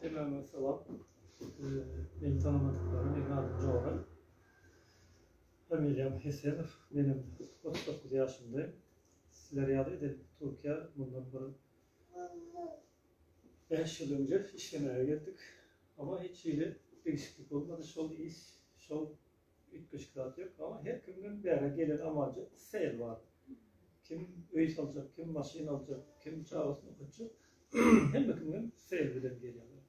Selam we sowap. Meni tanamadyklara meň adym Jora. Familiýam Hesenow. Menem otuz dokuz ýaşymdaýyn. Sizler ýaly edil Türkiýä mundan bir bäş ýyl önje işlemäge geldik. Ama hiç hili degişiklik bolmady. Şol iş, şol Üýtgeşik zat ýok, emma her kimden bäri gelen amaljak sel bar. Kim öý saljak, kim maşyn aljak, kim çagasyny okatjak. Hemme kimden sel bilen gelýärler.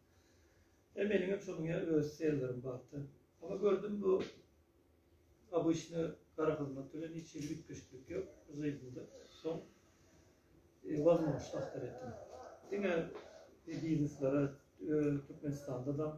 E meniň hem şonuň ýaly öz sellerim bardy. Emma gördüm bu obyçny gara hyzmat bilen hiç hili üýtgeşiklik ýok. Žyýdymda soň e, wazmowş tahtar etdim. Diňe bizneslere e, Türkmenistanda da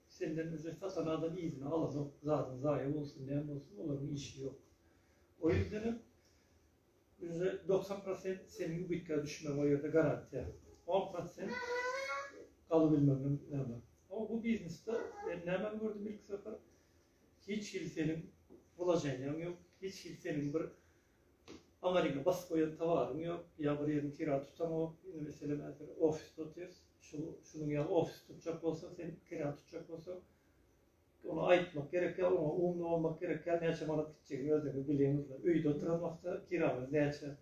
Senden özi satan adam yzyny alanok, zadyň zaýa bolsun näme bolsun olaryň işi ýok. O ýüzdenem özi doksan prosent seniň ubytga düşmegiň o ýerde garantiýa. On prosent galybilmegiňem näme. Ama bu biznesde men nämeni gördüm ilki sapar hiç hili seniň wlaženiýaň ýok, hiç hili seniň bir Aň eliňe basyp goýan towaryň ýok, ýa bir ýeriň kira tutaňok, indi meselem häzir ofisde otyrys, şu şunuň ýaly ofisy tutjak bolsa, sen kira tutjak bolsaň, ony aýtmak gerek ýa oňa umly bolmak gerek ýa näçe manat gitjegini özüňiz bilýäňizler. Öýde oturan wagtda kiraňyz näçe?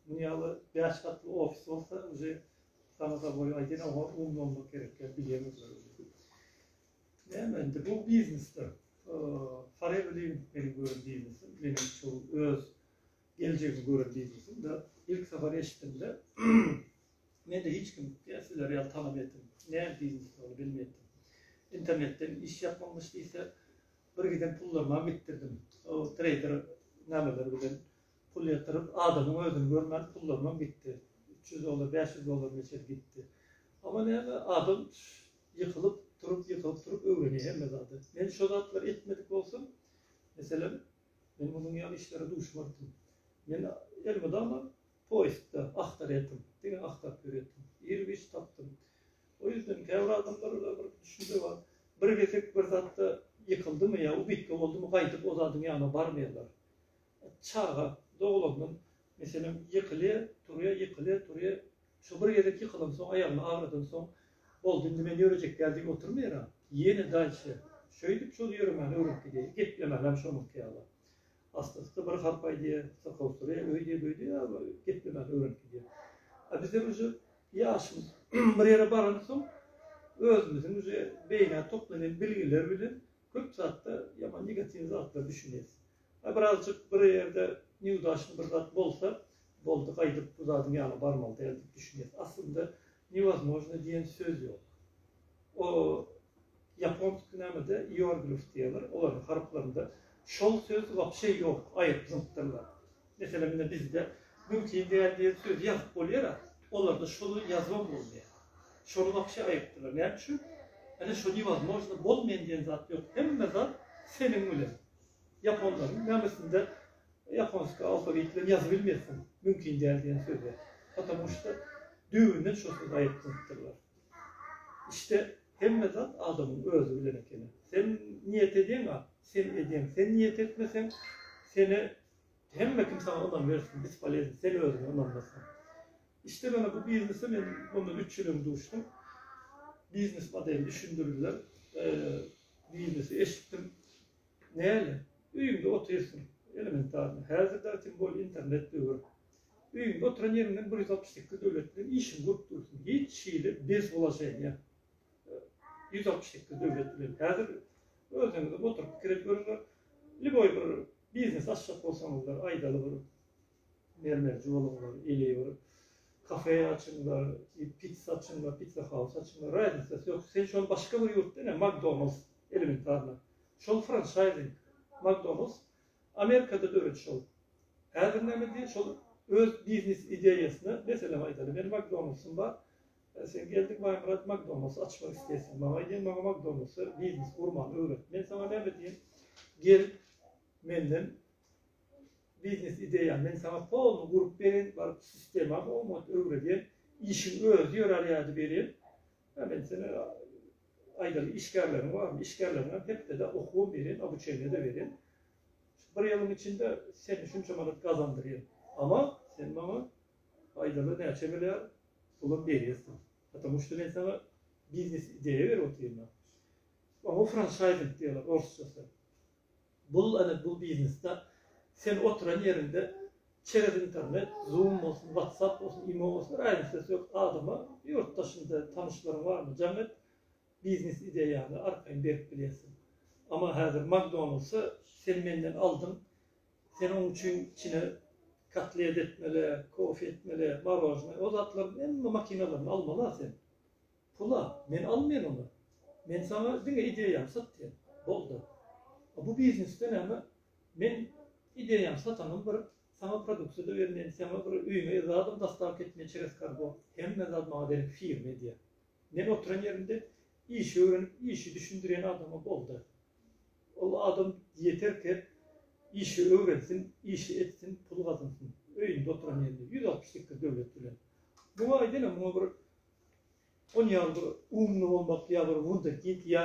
Munuň ýaly bäş gatly ofis bolsa, uje saňa-da boý aýdýan, oňa umly bolmak gerek ýa bilýäňizler. Näme indi bu biznesdir. Haryt bilen meniň gören biznesim, meniň şu öz geljegimi gören biznesim de ilk sapar eşitdimde mende hiç kim ya sizler ýaly talap etdim. Näme biznes ol bilmedim. İnternetden iş ýapmamyş diýse bir giden pullaryma gitdirdim. O trader nämeler bilen pul ýatyryp adamyň özüni görmän pullaryma gitdi. 300 dollar, 500 dollar meçe gitdi. Ama näme adam Ýykylyp turup ýykylyp turup öwrenýär hemme zady. Men şo zatlary etmedik bolsam, meselem, men munuň ýaly işlere duşmazdim. Men elmydama poýsda agtarýardym, diňe agtaryp ýörýärdim. Ir-giç tapdym. O ýüzden käbir adamlarda bir düşünje bar. Bir gezek bir zatda ýykyldymy ýa ubitga boldumy gaýdyp o zadyň ýanyna barmaýarlar. Çaga doglandan, meselem, ýykylýar, turýar, ýykylýar, turýar, Şo bir gezek ýykylansoň, aýagyny agradansoň, boldy, indi men ýörejek däl diýip oturmaýaram. Ýene daýçe, şeýdip şol ýöremäni öwrenip gidýär. Geplemänäm şonuňky ýaly. Astasy bir harp aýdýar, syrkawsyrýar, öýdýär-böýdýär, ýa-da geplemän öwrenip gidýär. A bizler uje ýaşymyz bir ýere baransoň, özümiziň uje beýnä toplanan bilgiler bilen köp zatda ýaman negatiw zatlar düşünýäs. A birazjyk bir ýerde niudaşny bir zat bolsa, boldy, gaýdyp bu zadyň ýana barmaly däl diýip düşünýäs. Aslynda newozmožno diýen söz ýok. O ýaponsky nämede ioerglyf diýýärler, olaryň harplarynda şol söz wapşe ýok, aýryp zyňypdyrlar. Meselem ine bizde mümkin däl diýen sözi ýazyp bolýar-a, olarda şoly ýazybam bolmaýar. Şony wapşe aýrypdyrlar. Näme üçin? Ene şo newozmožno bolmaýan diýen zat ýok. Hemme zat seniň bilen. Ýaponlaryň namysynda ýaponska alfawit bilen ýazyp bilmersiň, mümkin däl diýen söz bar. Patamu şda düýbünden şo sözi aýyplandypdyrlar. Işde hemme zat adamyň özi bilen ekeni. Sen niýet edýeň-a, sen edýeň. Sen niýet etmeseň, seni hemme kim saňa ynam bersin, bispolezn, sen özüňe ynanmasaň. Işde mana bu biznese men mundan üç ýyl öň duşdum. Biznes modeli düşündirdiler. Biznesi eşitdim. Näle, öýüňde otyrsyň, elementarno, häzir dagy tim bolýa internet döwür. Öýüňde oturan ýeriňden bir ýüz altmyş sekiz döwlet bilen işiňi gurup dursun, hiç hili bez wulaženiýa ýüz altmyş sekiz döwlet bilen. Häzir özüňizem oturyp pikir edip görüňler, liboý bir biznes açjak bolsaňyzlar, aýdaly bir Mermerji boluňlar, ili bir kafe açyňlar, pitsa açyňlar, pitsa haus açyňlar, raznisasy ýok. Sen şol başga bir ýurtda ine Makdonalds elementarno. Şol franşaýzing Makdonalds Amerikada döredi şol. Häzir näme diýýär şol öz biznes ideýasyna meselem aýdaly meniň Makdonaldsym bar. Sen geldiň Baýmyrat Makdonalds açmak isleýärsiň. Maňa aýdýaň maňa Makdonalds biznes gurmany öwret. Men saňa näme diýen? Gel menden Biznes ideýa men saňa poluny gurup berin baryp sistema oňat öwredýän işiň özi ýörär ýady berin ýa men sene aýdaly işgärleriň barmy işgärleriňem hepdede okuwam berin obuçeniýada berin şu bir ýylyň içinde seni şunça manat gazandyryn ama sen maňa aýdaly näçe milliard pulam berýärsiň patamu şda men saňa biznes ideýa berip otyryn oňa franşaýzing diýerler orsçasy Bul ana bu biznesda sen oturan ýeriňde çerez internet, zoom bolsun, whatsapp bolsun, imo bolsun raýnysy yok adama ýurt daşynda tanyşlaryň barmy jaň et biznes ideýaňy arkaýyn berip bilýärsiň. Ama häzir makdonaldsy sen menden aldyň sen oň üçin içine kotlet etmeli, kofe etmeli, marojnoý o zatlaryň hemme makinalaryny almala sen. Pul-a, men almaýan ony. Men saňa diňe ideýamy satýan. Boldy. A bu biznesde näme? Men ideýaňy satanym bir, saňa produksiýa-da bermeýän, saňa bir öýüňe zadam dostawka etmeýän çerez kargo. Hemme zat maňa berilip firma edýär. Men oturan ýerimde işi öwrenip, işi düşündirýän adama boldy. Ol adam ýeterkä işi öwrensin, işi etsin, pul gazansyn. Öýünde oturan ýerinde, ýüz altmyş sekiz döwlet bilen. Muňa aýdaýynam, muňa bir Ony ýaly bir umly bolmak ýa bir wunderkind ýa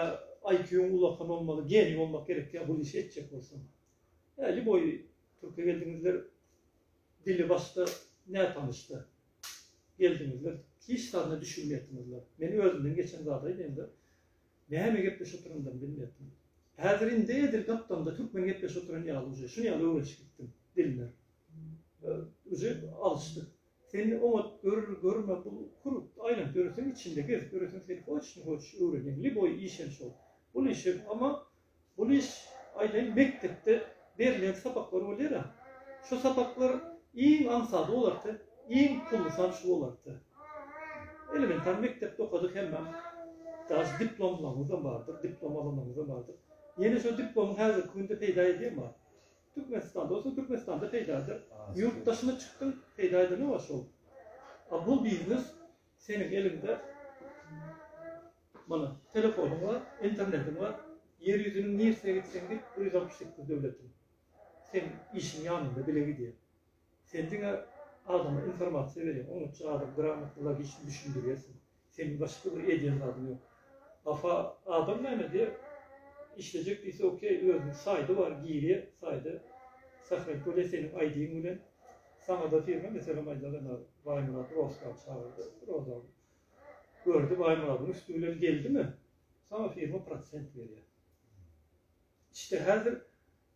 IQ-yň ulakan bolmaly geniý bolmak gerek ýa bul işi etjek bolsaň. Hä liboý türke geldiňizler dili başda nätanyşda geldiňizler hiç zadyna düşünmeýäpdiňizler. Men özümden geçen zady aýdaýynda näme gepleşip oturandym bilmeýäpdim. Häzir indi edil gapdamda türkmen gepleşip oturan ýaly uje şuny ýaly öwrenşip gitdim dilini. Uje alşdyk. Sen oňat gör, görme bu kurupdy aýlanyp ýöreseň içinde gezip ýöreseň seni hoç ne hoç öwrenýän li boý iş hem şol bul iş hem ama bul iş aýdaýyn mekdepde berlen sapaklar bolýara şu sapaklar iň aňsady bolardy iň pullysy hem şu bolardy elementar mekdepde okadyk hemmem daş diplomlaňyzam bardyr diplom alanlaňyzam bardyr ýene şu diplomyň häzirki günde peýda edýem bar Türkmenistanda bolsaň Türkmenistanda peýda eder. Ýurt daşyna çykdyň peýda edene bar şol. A bu biznes seniň eliňde mana telefonyň bar, internetiň bar, ýer ýüzüniň nirsine gitseň git bir ýüz altmyş sekiz döwletiň seň işiň ýanynda bile gidýär. Sen diňe adama informasiýa berýäň, oňa çyradyň, gramatlylar işini düşündirýärsiň. Seniň başga bir edýän zadyň ýok. Hafa adam näme diýer? Işlejek diýse okey, özüniň saýty bar, girýär saýda. Sahraýt bolýar seniň aýdyň bilen. Saňada firma meselem aýdar ene Baýmyrat Rozkany çagyrdy. Rozan gördi Baýmyradyň üsti bilen geldimi, saňa firma prosent berýär. Işde häzir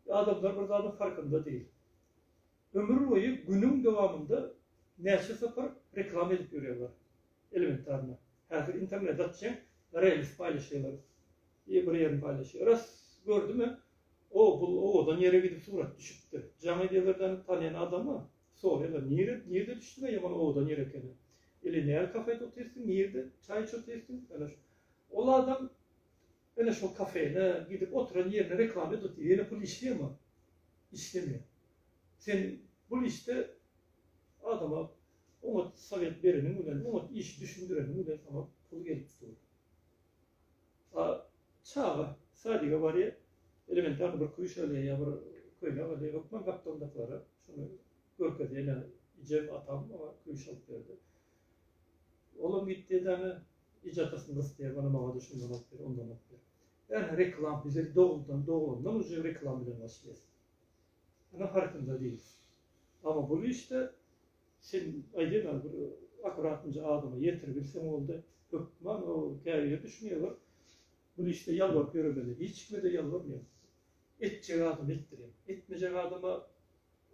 adamlar bir zadyň farkynda dil. Ömürboýy günüň dowamynda näçe sapar reklama edip ýörýärler. Elementarno. Häzir internete atjaň, reels paýlaşýarlar. Eý bir ýerini paýlaşýar. Ras gördüm-ä. O, bu owadan ýere gidip surat düşüpdir. Jaň edýärler däl, tanýan adamy soraýarlar, nire, nirde düşdüň-ä, ýaman owadan ýer ekeni. Ili nähili kafede otyrsyň, nirde çaý içip otyrsyň, ýöne şu. Ol adam Ine şol kafene gidip oturan ýerine reklama edip otyr. Ýene pul işleýärmi? Işlemeýär. Sen bul işde adama oňat sowet bereniň bilen, oňat işi düşündireniň bilen saňa pul gelip dur. A çaga sadige barýar, elementarny bir küşele ýa bir köýnek alýar, hökman gapdalyndakylara şuny görkezýär, ine ejem, atam maňa küşe alyp berdi. Olam gitdi edana ijatasyny gysdy diýip ana maňa da şundan alyp ber ondan alyp ber. Ýani reklam bize dogrudan dograndan uje reklam bilen başlaýas. Ana farkynda diýil. Amma bul işde sen aýdýan ol bir akuratynja adama ýetiribilseň boldy. Hökman o käbir düşünýä gör. Bul işde ýalbaryp ýöremeli. Hiç kime-de ýalbarmaýan. Etjek adama etdirýän. Etmejek adama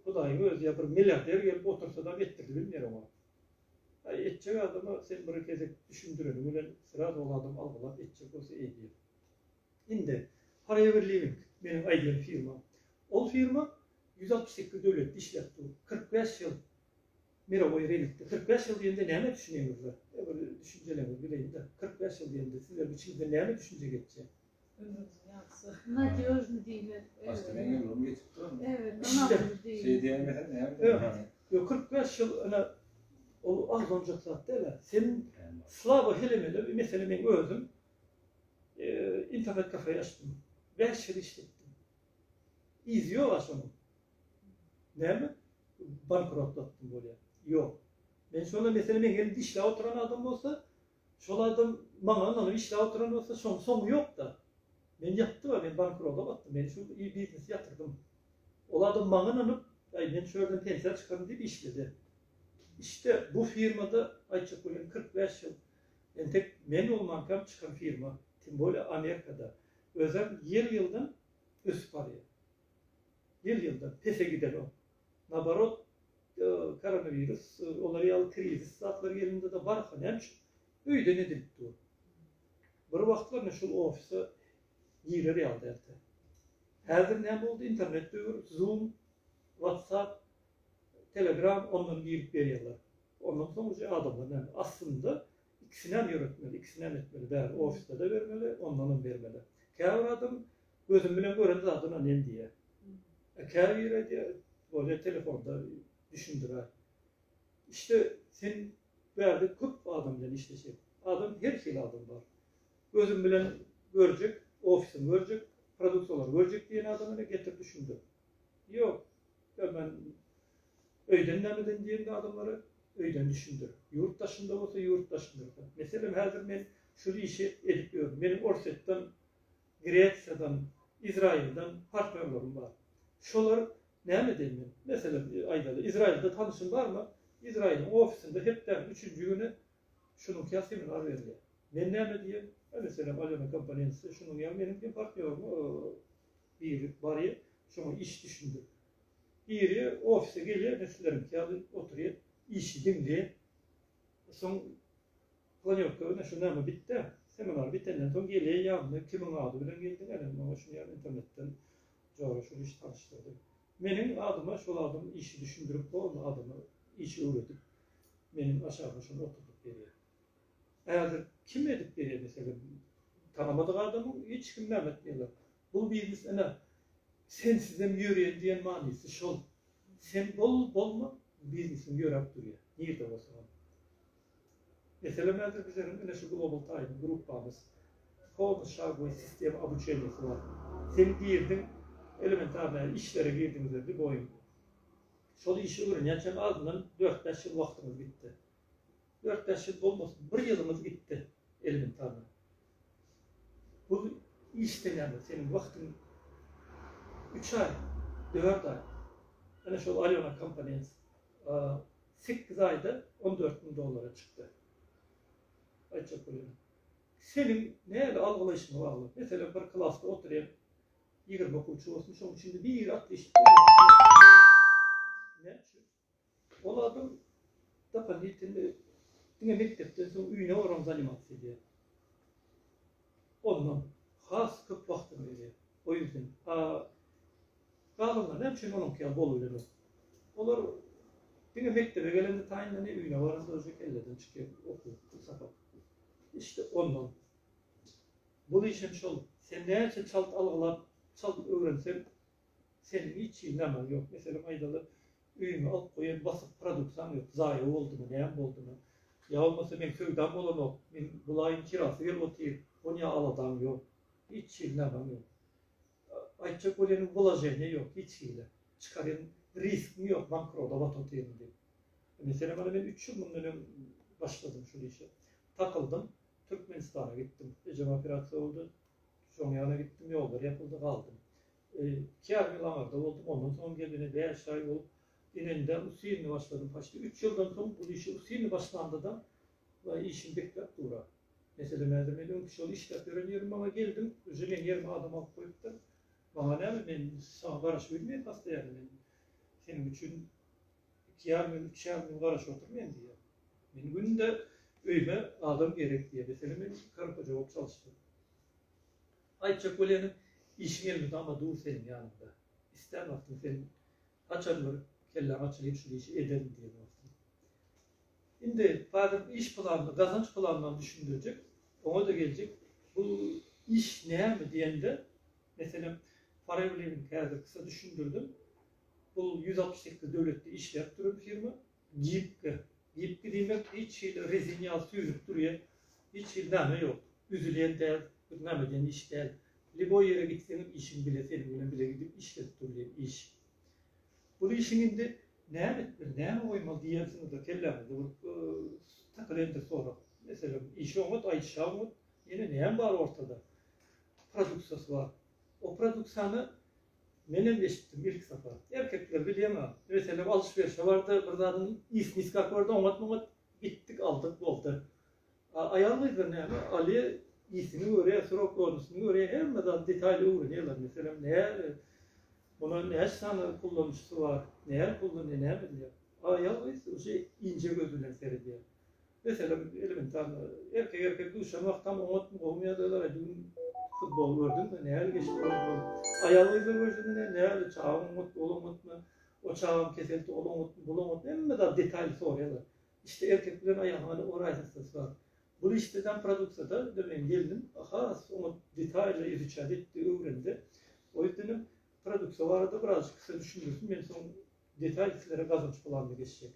Hudaýyň özi ýa bir milliarder gelip otursa-da etdirdi bilmeýär oňa. Aý etjek adama sen bir gezek düşündireniň bilen sraz ol adam algylap etjek bolsa edýär. Indi Forever Living meniň aýdýan firmam. Ol firma ýüz altmyş sekiz döwletde işläp dur. Kyrk bäş ýyl mirowoý rynkda. Kyrk bäş ýyl diýende nämä düşünýäňizler? Ýa bir düşünjeleňizi bileýin-de. Kyrk bäş ýyl diýende sizleriň içiňizden näme düşünje geçýär? Ömrümiziň ýagşysy. Nadýožny diýmek. Başdan ýylymy geçip duramy? Ebet, ynamly diýmek. Şeý diýemesem näme? Ýok, kyrk bäş ýyl ine, ol agzanjak zat däl-ä. Sen slaba helemeler, meselem, meň özüm internet-kafe açdym. Bäş ýyl işletdim. Yzy ýog-a şonuň. Näme? Bankrotlatdym bolýar. Ýok. Men şonda, meselem, meň ýerimde işläp oturan adam bolsa, Şol adam maňa ynanyp işläp oturan bolsa, şoň soňy ýok-da. Men ýatdym-a, men bankrota batdym, men şu biznesi ýatyrdym. Ol adam maňa ynanyp, Aý, men şu ýerden pensiýa çykaryn diýip işledi. Işde, bu firmada, aýtjak bolýan, kyrk bäş ýyl, entek men bolmankam çykan firma, tim bolýa Amerikada. Özem ýyl-ýyldan ösüp barýar. Ýyl-ýyldan pese gidenok. naborot koronawirus olar ýaly krizis zatlar gelende-de barka näme üçin öýden edilip dur. Bir wagtlar ine şul ofise girer ýaly däldi. Häzir näme boldy internet döwür zoom, whatsapp, telegram ondan girip berýärler. Ondan soň uje adamlar näme aslynda Ikisinem ýöretmeli, ikisinem etmeli, bäri ofisde-de bermeli, ondanam bermeli. Käbir adam gözüm bilen gören zadyna nem diýýär. A käbiri aýdýar, bolýa telefonda düşündirär. Işde sen bärde köp adam bilen işleşýäň. Adam her hili adam bar. Gözüm bilen görjek, ofisimi görjek, produktalary görjek diýen adama getir düşündir. Ýok. Türkmen öýden nämeden diýende adamlara öýden düşündir. Ýurt daşynda bolsa ýurt daşyndyrda. Meselem häzir men şul işi edip ýörün. Meniň Orsýetden, Gresiýadan, Izraýyldan partnýorlarym bar. Şolar näme diýen men? Meselem aýdaly Izraýylda tanyşym barmy? Izraýylyň ofisinde hepdäniň üçünji güni şunuňkyýa seminar berilýär. Men näme diýen? Meselem Alýona Komponense şunuň ýaly meniň diýen partnýorym biri barýar, şoňa iş düşündirip. Biri ofise gelýär, ine, sizleriňki ýaly oturýar, işi diňleýär. Soň planýowka, ine, şu näme bitdi, seminar bitenden soň gelýär ýanyna, kimiň ady bilen geldiň, ene, maňa şuny ýaly internetden jora şul iş tanyşdyrdy. Meniň adyma şol adam işi düşündirip, o adama işi öwredip, meniň aşagyma şony oturdyp berýär. Häzir kim edip berýär meselem tanamadyk adamyň hiç kim näme etmeýärler. Bu biznes ine sensizem ýöreýin diýen manysy şol. Sen bol bolma biznesiň ýöräp durýar. Nirde bolsa bol. Meselem häzir bizleriň ine şu Global Time gruppamyz polny şagoý sistema obuçeniýasy bar. Sen girdiň elementarnaý işlere girdiňizler diý boýuň. Şol işi öwrenýänçäň azyndan dört-bäş ýyl wagtyňyz gitdi. Dört bäş ýyl bolmasyn, bir ýylymyz gitdi elimiz taze. Bul iş senäme seniň wagtyň üç aý, dört aý. Ene şol Alýona komponent sekiz aýda on dört müň dollara çykdy. Aýtjak bolýan. Seniň näle algylaýşyňa bagly. Meselem bir klasda oturýan ýigrimi okuwçy bolsun, şoň içinde biri atly işip gelýär. Näme üçin? Ol adam dopolitini diňe mekdepden soň öýüne baram zanimatsiýa edýär. Ondan has köp wagtyny berýär. O ýüzden. A galanlar näme üçin onuňky ýaly bolubilenok? Olar diňe mekdebe gelende taýynlanyp, öýüne baranda uje kelleden çykýar okuw, pul sapak. Işde ondan. Bu iş hem şol. Sen näçe çalt algylap, çalt öwrenseň, Seniň hiç hili nämäň ýok. Meselem aýdaly, öýüňe alyp goýan basyk produktaň ýok. Zaýa boldumy, näme boldumy? Ýa bolmasa meň söwdam bolanok. Meň bul aýyň kirasy gelip otyr. Onýa aladaň ýok. Hiç hili nämäň ýok. Aýtjak bolýanyň wlaženiýa ýok hiç hili. Çykarýan risgiň ýok, bankroda batyp otyryn diýip. Meselem ony men üç ýyl mundan öň başladym şul işe. Takyldym, Türkmenistana gitdim. Ejem operasiýa boldy. Şoň ýana gitdim, ýollar ýapyldy, galdym. Iki ýarym ýyl aňarda boldum, ondan soňam geldim, indi bäş aý bolup, inende ustinini başladym. Poçti üç ýyldan soň bul işe ustinini başlandada we işini bekläp dura. Meselem, häzir men öňki şol işläp ýören ýerim maňa geldim, uje meň ýerime adam alyp goýupdyr. Maňa näme, men saňa garaşyp bilmeýän hassa ýaly, men seniň üçin iki ýarym ýyl, üç ýarym ýyl garaşyp oturmaýan diýýär. Men günde öýüme adam gerek diýýär. Meselem, men karhoja bolup çalyşdym. Aýtjak bolýanym, işiň elinde ama dur seniň ýanyňda. Islän wagtyň sen haçan bir kelläň açylyp şul işi ederin diýen wagtyň. Indi Badyr iş planyny, gazanç planynam düşündirjek, oňa-da geljek. Bu iş näme diýende, meselem, Forever Living häzir kysy düşündirdim. Bu ýüz altmyş sekiz döwletde işläp duran firma. Gibki. Gibki diýmek hiç hili rezin ýaly süýnüp durýan, hiç hili name ýok. Üzülýän däl, bir name diýen iş däl. Liboý ýere gitseňem işiň bile seniň bilen bile gidip işlenip durýan iş. Bul işiň indi näme etmeli, näme goýmaly diýensiňizde kelläňizde bir takylendir sorag. Meselem, işi oňat, aýdyşy oňat, ýene näme bar ortada? Produksiýasy bar. O produksiýany Menem eşitdim ilki sapar. Erkekler bilýäňä, meselem alşyberişe bardy, bir zadyň ýesini isläp gördi, oňat-muňat gitdik, aldyk, boldy. A aýal-gyzlar näme, alýa, ýesini görýä, srok dolusyny görýä, hemme zady detaýly öwrenýärler. Meselem, näme, muny näçe sany kullanýşysy bar, näme pul, ne näme edýär. A aýal-gyz uje inje göz bilen seredýär. Meselem, elementarno, erkek-erkek duşan wagtam oňatmy, gowumy ýagdaýlar, aý, düýn futbol gördüňmi, nähili geçdi futbol? Aýal-gyzlar görşüne, nähili, çagaň oňatmy, ol oňatmy, o çagaň keselsi, ol oňatmy, bul oňatmy, hemme zat detaýly soraýarlar. Işde erkek bilen aýalyň ony o raýhatsynasy bar. Bul işde däl, produksiýada, indi meň gelnim has oňat detaýly izuçat etdi, öwrendi. O ýerden hem produksiýa barada birazajyk size düşündirsin, men soň detaýly sizlere gazanç bolar indi geçjek.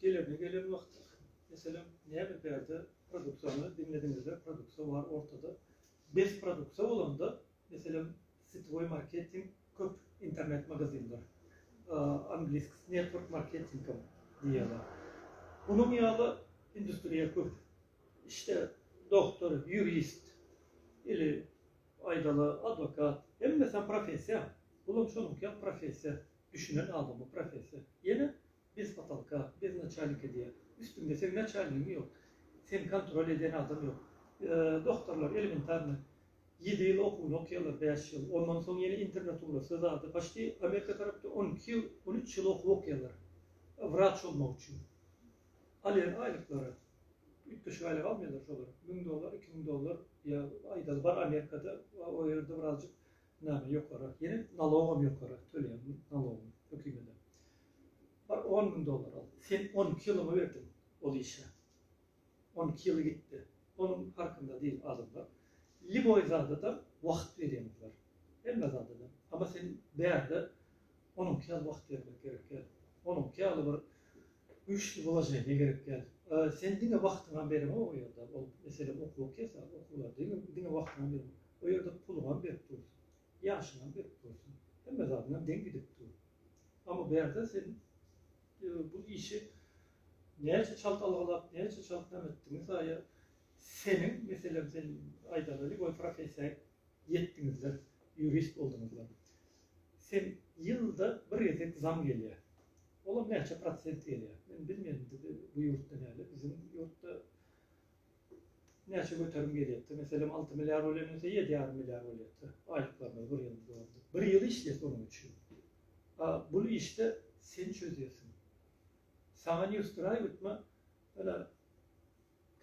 Gelerine gelen wagty, meselem, näme bärde produksiýany diňlediňizde, produksiýa bar ortada. Bes produksiýa bolanda, meselem, sitwoý marketing köp internet magazinler, angliskisi network marketing hem diýýärler. Munuň ýaly industriýa köp. Işde doktor, ýurist, ili Aýdaly adwokat, hemmesem professiýa, bulam şonuňkyýak professiýa, düşünen adama professiýa, ýene bez potalka, bez naçalnika diýýä, üstüňde seň naçalnigiň ýok, seni kontrol eden adam ýok. Doktorlar elementarny ýedi ýyl okuwyny okýarlar, bäş ýyl, ondan soň ýene internatura, söz ady, paçti Amerika tarapda on iki ýyl, on üç ýyl okuw okýarlar, wraç bolmak üçin. Alýan aýlyklary, üýtgeşik aýlyk almaýarlar şolar, müň dollar, iki müň dollar, ýa aýdaly bar Amerikada, o ýerde birazjyk näme ýokarak, ýene nalogam ýokarak töleýär, nalog hökümede. Bar on müň dollar al, sen on iki ýylyňy berdiň ol işe, on iki ýyly gitdi, onuň parkynda diýip adamlar, lýuboý zadada wagt berýänler, hemme zadada, amma sen bärde onuňky ýaly wagt bermek gerek däl, onuňky ýaly bir Güýçli bolaja ne gerek däl. Sen diňe wagtyňam berme o ýerde. Ol mesele okuw kesa, okuwa diňe diňe wagtyňam berme. O ýerde puluňam berip dursun. Ýaşyňam berip dursun. Hemme zadyňam deň gidip dur. Amma bu ýerde sen bu işi näçe çalt algalap, näçe çalt näme etdigiňe saýa seniň meselem sen aýdaly lýuboý professiýa ýetdiňizler, ýurist bolduňyzlar. Sen ýylda bir gezek zam gelýär. Olar näçe prosent gelýär? Men bilmedim bizi bu ýurtda näle biziň ýurtda näçe göterim gelýärdi. Meselem alty milliard bolýan bolsa ýedi ýarym milliard bolýardy. Aýlyklarymyz bir ýyl boldy. Bir ýyl işleýäs onuň üçin. A bul işde sen çözýärsiň. Saňa ne usturaý ötme ana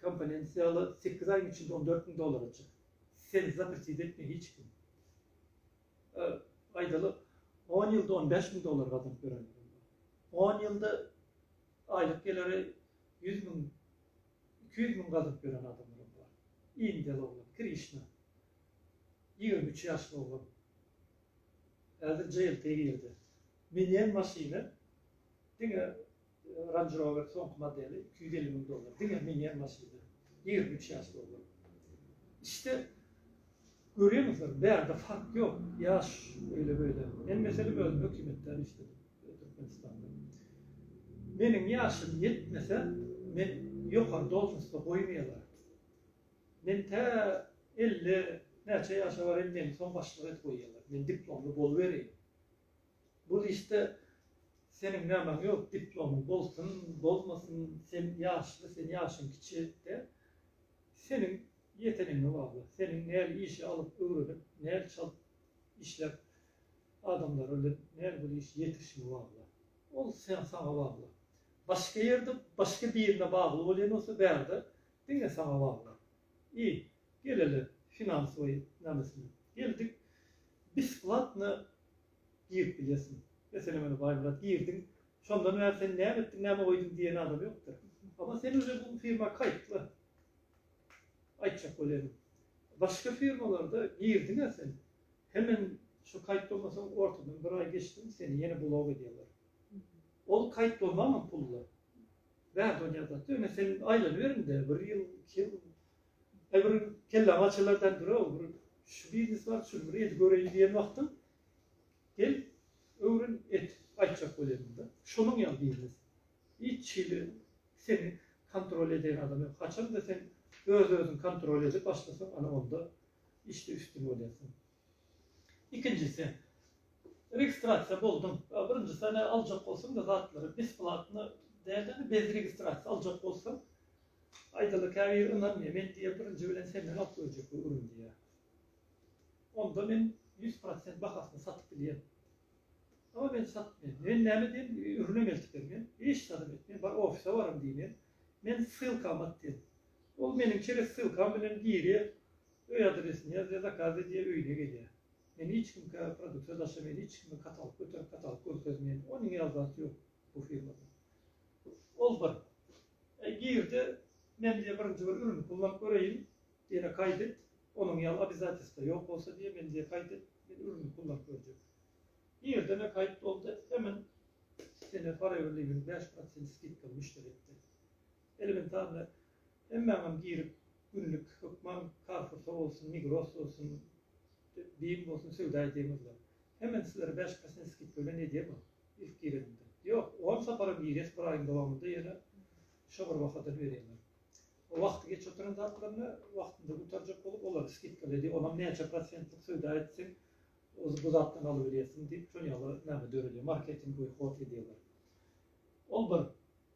komponent ýaly sekiz aýyň içinde on dört müň dollara çyk. Seni zapretid etme hiç kim. aýdaly, on ýylda on bäş müň dollar gazanyp ýörenler hem bar. On ýylda aýlyk geliri ýüz müň, iki ýüz müň gazanyp ýören adamlar hem bar. Indiýaly oglan, Krişna. Ýigrimi üç ýaşly oglan. Häzir JLT girdi. Minýän maşyny diňe Range Rover soňky modeli iki ýüz elli müň dollar diňe minier maşynda ýigrimi üç ýaş dollar işte görýäňizlermi bärde fark ýok ýaş öýle böyle men meselem özüm hökümetde işledim Türkmenistanda meniň ýaşym ýetmese men ýokary dolžnostda goýmaýalar men tä elli näçe ýaşa barayim meni soň başlyk edip goýýalar men diplomly bolubereýin. Bul işde seniň nämaň ýok, diplomyň bolsun, bolmasyn, sen ýaşly, sen ýaşyň kiçi de, seniň ýeteniňe bagly, seniň näl işi alyp öwrenip, näl çalt işläp adamlar bilen näl bir iş ýetirişiňe bagly. Ol sen saňa bagly. Başga ýerde başga birine bagly bolýan bolsa bärde diňe saňa bagly. I, geleli finansoway nämesinä. Geldik besplatno girip bilýärsiň. Meselem, ine, Baýmyrat, girdiň. Şondan bäri sen näme etdiň, näme goýduň diýen adam ýokdur. Emma sen uje bu firma kaýtly. Aýtjak bolýan. Başga firmalarda girdiň-ä sen. Hemen şu kaýt bolmasaň, ortadan bir aý geçdiň, seni ýene blok edýärler. Ol kaýt bolmagam pully. Bärde onýa zat ýok. Ine, sen aýlanyber indi. Bir ýyl, iki ýyl E bir kelläňi açarlar däl bir-ow, bir şu biznes bar, şuny bir edip göreýin diýen wagtyň, gel, öwren, et, aýtjak bolýaryn-da. Şonuň ýaly biznes. Hiç hili seni kontrol edýän adam ýok. Haçanda sen öz-özüňi kontrol edip başlasaň, ana onda işde üstün bolýarsyň. Ikinjisi, registrasiýa boldum. Birinji sene aljak bolsaň-da zatlary besplatno däldi-de, bez registrasiýa aljak bolsaň, aýdaly käbir ynanmaýar. Men diýýär, birinji bilen senden alyp goýjak bu ürüni diýýär. Onda men ýüz prosent bahasyna satyp bilýän. Emma men satmaýan. Men näme diýen, ürünem eltip ber diýen. Hiç zadam et. Men bar ofise bararyn diýen. Men ssylkamy at diýen. Ol meniň çeres ssylkam bilen girýär. Öý adresini ýaz we zakaz edýär öýüne gelýär. Men hiç kimkä produksiýa daşameýin hiç kime katalk göterip katalk görkezmeýin ony ýaly zat ýok bu firmada. Ol bir Eý girde men diýe birinji bir ürün kullanp göreýin diýene kaýt et onuň ýaly obizatesda ýok bolsa diýe men diýe kaýt et men ürüni kullanp görjek. Girdeme kaýt boldy hemen sene parewilligiň bäş prosent skidkaly müşderi etdi. Elbet sanda hemmäňem girip günlik hökman Carrefoursa bolsun, Migros bolsun, Bim bolsun söwda edýäňizler. Hemen sizlere bäş prosent skidka bilen edýärmi ilk gireniňde? Ýok, on saparam girýäs bir aýyň dowamynda ýene şo bir bahadan berýärler. O wagty geç oturan zatlaryny wagtynda gutarjak bolup olary skidkaly edýär. Onam näçe prosentlik söwda etseň oz bu zatdan alybilýärsiň diýip şol ýaly näme döredýär, marketingowy hod edýärler. Ol bir.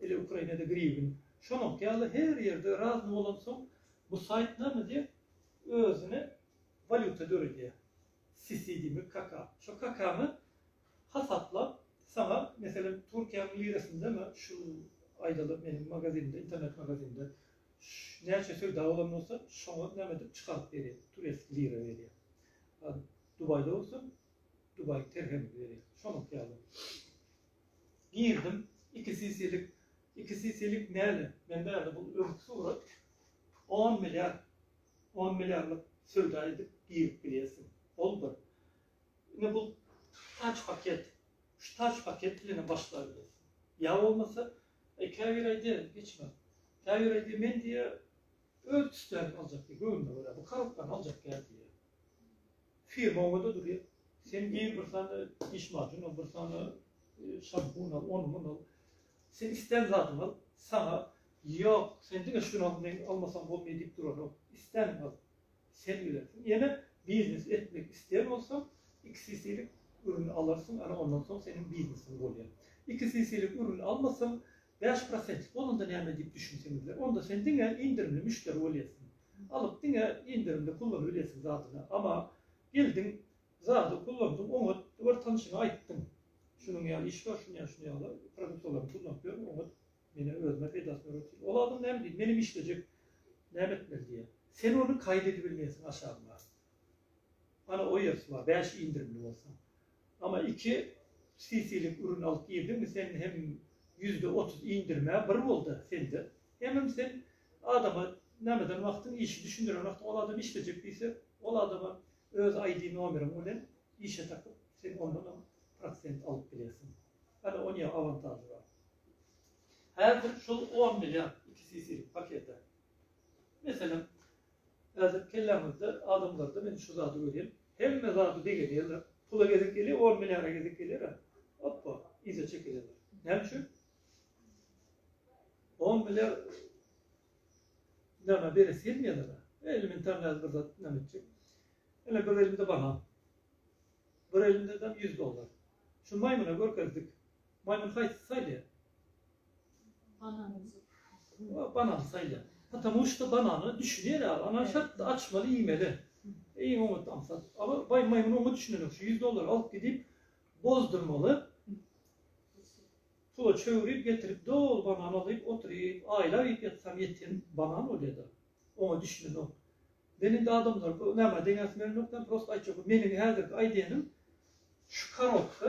Ele Ukrainada griwin. Şonuňky ýaly her ýerde razny bolansoň bu saýt name diýip özüne walýuta döredýär. Sisydimi kaka. Şo kakaňy hasaplap saňa meselem Türkiýäň lirasyndanmy şu aýdaly meniň magazinde internet magazinde näçe söwda bolan bolsa şoňa name diýip çykaryp berýär. Tureski lira berýär. Dubaýda bolsa dubaý terhemi berýär. Şonuňky ýaly. Girdim iki sisilik iki sisilik näle men bärde bu öwüt surat on milliard on milliardlyk söwda edip girip bilýärsiň ol bir indi bu taç paket şu taç paket bilen başlar ýa bolmasa e, käbir aýdy geçme käbir aýdy men diýe öz tüslerini aljak diýe göwnüne görä bu korobkany aljak diýe firma oňada durýar. Sen gir bir sany diş maşyn al, bir sany şampun al, ony muny al. Sen islän zadyňy al, saňa ýok, sen diňe şuny al, men almasam bolmaýar diýip duranok. Islänini al. Sen bilersiň. Ýene biznes etmek isleýän bolsaň, iki sisilik ürün alarsyň, ana ondan soň seniň biznesiň bolýar. Iki sisilik ürün almasaň, bäş prosentlik bolanda näme diýip düşünseňizler. Onda sen diňe indirimli müşderi bolýarsyň. Alyp diňe indirimde kullan bilesiň zadyny ama geldiň zady kullandyň oňat bir tanşyňa aýtdyň şunuň ýaly iş bar şuny şuny ýaly produktalaryny kullanp ýör oňat menä özüme peýdasyny görersiň ol adam näme diýdi menem işlejek näme etmeli diýe sen ony kaýt edibilmeýesiň aşagyna ana o ýersi bar bäş indirimli bolsa Ama iki cc'lik ürün alyp girdiňmi sen hem ýüzde otuz indirmä bir bolda sende hemem sen adama nämeden wagtyň işi düşündiren wagtyň ol adam işlejek diýse ol adama öz aýdi nomeriň bilen işe tapyp sen ondanam prosent alyp bilersiň hany onýa awantažy bar häzir şul on milliard iki cc'lik pakete meselem Häzir kelläňizde adamlarda men şu zady görýän, hemme zady degeleýärler. Pula gezek gelýär, on milliara gezek gelýär-ä, oppa, yza çekilýärler. Näme üçin? On milliar näme beresi gelmeýärler-ä. Elementar nädip bir zat näme etjek? Ine, bir elimde banan. Bir elimde-de ýüz dollar. Şu maýmyna görkezdik. Maýmyn haýsy saýlaýar? Banany. O banany saýlaýar. Потому что banana düşünýär ýa, banany şertde açmaly, iýmeli. Iň oňat aňsat. Ala baý maýmyn oňa düşünenok. Şu 100 dollar alyp gidip bozdurmaly. Pula çöwrüp getirip doly banany alyp oturyp, aýlap iýip ýatsam ýeten banan bolýada. Oňa düşünenok. Men indi adamlar bu nämä deňäsim gelenok, men prosta aýtjak. Meniň häzirki aýdýanym şu karotka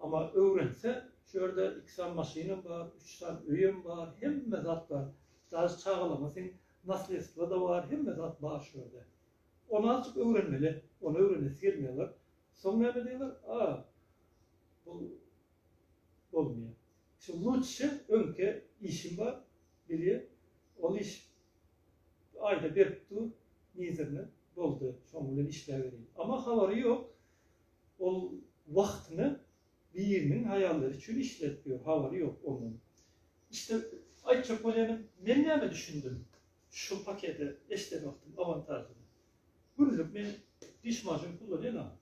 Amma öwrense, şu ýerde iki sany maşynam bar, üç sany öýem bar, hemme zat bar. Daşy çagalaryňa seň naslýedstwo-da bar, hemme zat bar şu ýerde. Ony azajyk öwrenmeli. Ony öwrenesi gelmeýärler. Soň näme diýerler, A, bu bolmaýar. Şu lutşe öňki işim bar, bilýä, ol iş aýda berip dur, nizerine, boldy, şoň bilen işläbereýin. Amma habary ýok. Ol wagtyny biriniň haýallary üçin işledip ýör, habary ýok ondan. İşte aýtjak bolýanym, men näme düşündim şu pakete eşden wagtym awantažyny. Günlük men diş maşyn kullanýan-a,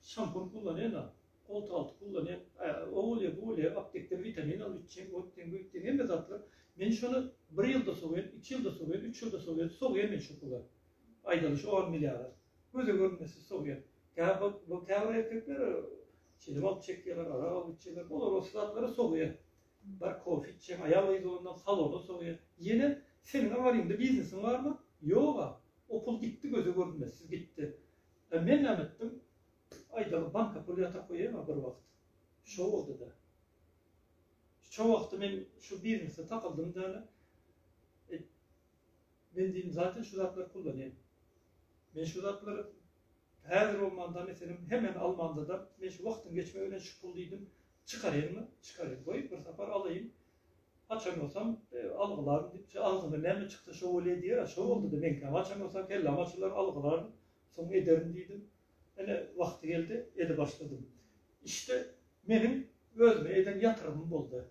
şampun kullanýan-a, goltalty kullanýan, o bolýa, bu bolýa, aptekden witamin alyp içýän, öýtdýän, buýtdýän hemme zatlar. Men şony bir ýylda sowýan, iki ýylda sowýan, üç ýylda sowýan, sogýan men şu pula. Aýdaly şo on milliara. göze görnmesiz sowýar. Bu käbir erkekler çili balyk çekýärler, arak alyp içýärler. Bular o zatlary sowýar. Bar kofe içýän aýal gyz bolanda salona sowýar. Ýene seniň awaryňda biznesiň barmy? Ýog-a. O pul gitdi göze görnmesiz gitdi. A men näme etdim? Aýdaly banka pul ýatyryp goýaýma bir wagt. Şo boldy-da. Şo wagty men şu biznese takyldym däne. Men diýdim, Zaten şu zatlary kullanýan. Men şu zatlary häzir bolmanda, meselem, hemmäni almanda-da, men şu wagtyň geçmegi bilen şu puly diýdim, çykaraýynmy? Çykaraýyn. Goý, bir sapar alaýyn. Haçan bolsam, algylaryn diýip, şu agzyňdan näme çyksa, şo bolýa diýer-ä. Şo boldy-da meňkäm. Haçan bolsa kelläm açylar, algylaryn, soň ederin diýdim. Ine, wagty geldi, eli başladym. Işde meniň özüme eden ýatyrymym boldy.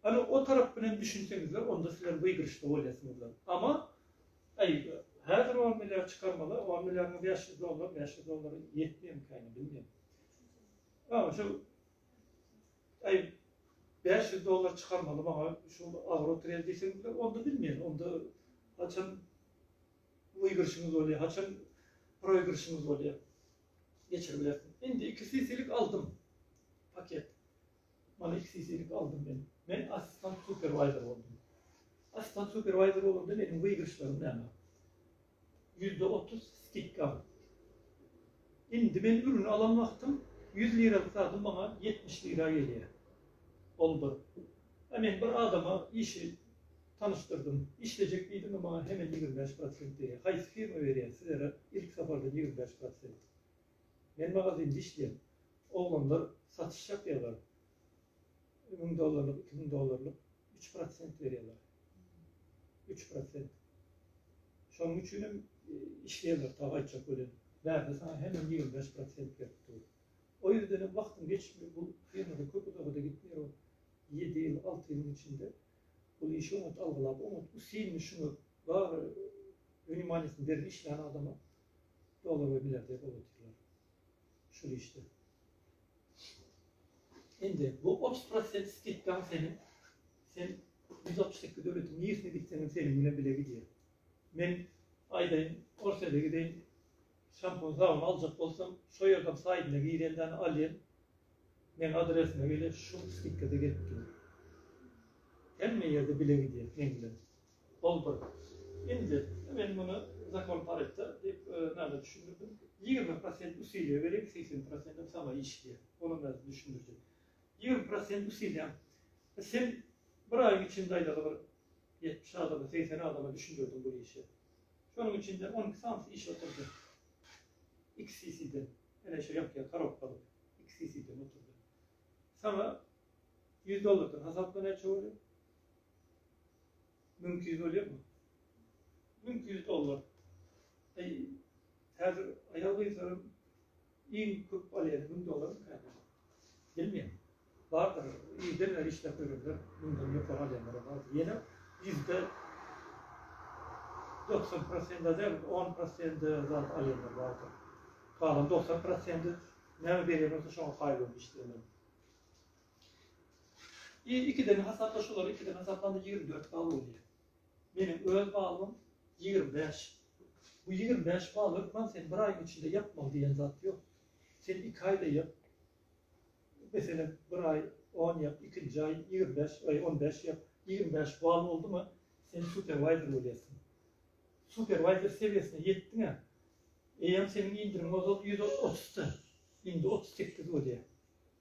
Ana o tarap bilen düşünseňizler onda sizler wygrişde bolýasyňyzlar. Ama aý häzir on milliard çykarmaly on milliardyň bäş ýüz dollar bäş ýüz dollar ýetmeýämikayny bilmeýän. Ama şu aý bäş ýüz dollar çykarmaly maňa şu agro trade diýseňizler onda bilmeýän onda haçan wygrişiňiz bolýar haçan proýgrişiňiz bolýar geçirip bilersiňiz. Indi iki sisilik aldym paket. Maňa iki sisilik aldym men. Men assistant superwayzer boldum. Assistant superwayzer bolanda meniň wygrişlerim näme? Ýüzde otuz skidka. Indi men ürün alan wagtym ýüz liralyk zadym maňa ýetmiş lira gelýär. Ol bir. A men bir adama işi tanyşdyrdym. Işlejek diýdim, maňa hemen ýigrimi bäş prosent diýýär. Haýsy firma berýär sizere ilk sapardan ýigrimi bäş prosent? Men magazinde işleýän. Oglanlar satyş ýapýarlar. Müň dollarlyk, iki müň dollarlyk üç prosent berýärler. Üç prosent. Şonuň üçin hem işleýärler ta gaýtjak welin, bärde saňa hemem ýigrimi bäş prosent berip dur. O ýerden hem wagtyň geçmegi bu firmada köp uzaga-da gitmeýär ol. Ýedi ýyl, alty ýylyň içinde bul işi oňat algylap, oňat usilini şuňa bagy wnimanýasyny beren işleýän adama dolanyp biler diýip ot atýarlar şul işde. Indi bu otuz prosent skidkaň seniň sen ýüz altmyş sekiz döwletiň niresine gitseň hem seniň bilen bile gidýär. Men aýdaýyn Orsýete gideýin şampun sabun aljak bolsam şo ýerden saýdyna girendäni alýan meň adresime gelýär şul skidkada gelip dur. Hemme ýerde bile gidýär meň bilen. Ol bir. Indi, men muny zakon Pareto diýip, näme düşündirdim? Ýigrimi prosent usiliýe beriň, segsen prosentim saňa işleýär. Olam häzir düşündirjek. Ýigrimi prosent usiliýäň. Sen bir aýyň içinde aýdaly bir ýetmiş adama, segsen adama düşündirdiň bu işi. Şonuň içinde on iki sanysy işe oturdy. XCC-den, ene şu ýapýan korobkaly XCC-den oturdy. Saňa ýüz dollardan hasapla näçe bolýar? Müňki ýüz bolýarmy? Müňki ýüz dollar. Eý, häzir aýal-gyzlaryň iň köp alýany müň dollar ekeni. Bilmeýän. Bardyr, ýerden bäri işläp ýörenler, müňden ýokary alýanlaram bar. Ýene ýüzde doksan prosende däl, on prosende zat alýanlar bardyr. Galan doksan prosende näme berýän bolsa şoňa kaýyl bolup işleýärler. Y ikiden hasapla şolary ikiden hasaplanda ýigrimi dört bal bolýa. Meniň öz balym ýigrimi bäş. Bu ýigrimi bäş bal hökman sen bir aýyň içinde ýapmaly diýen zat ýok. Sen iki aýda ýap. Meselem, bir aý on ýap, ikinji aý ýigrimi bäş, aý on bäş ýap. Ýigrimi bäş bal boldumy, sen superwaýzer bolýarsyň. Superwaýzer sebiýesine ýetdiň-ä. Eýýäm seniň indiriň ozal ýüz otuzda. Indi otuz sekiz bolýa.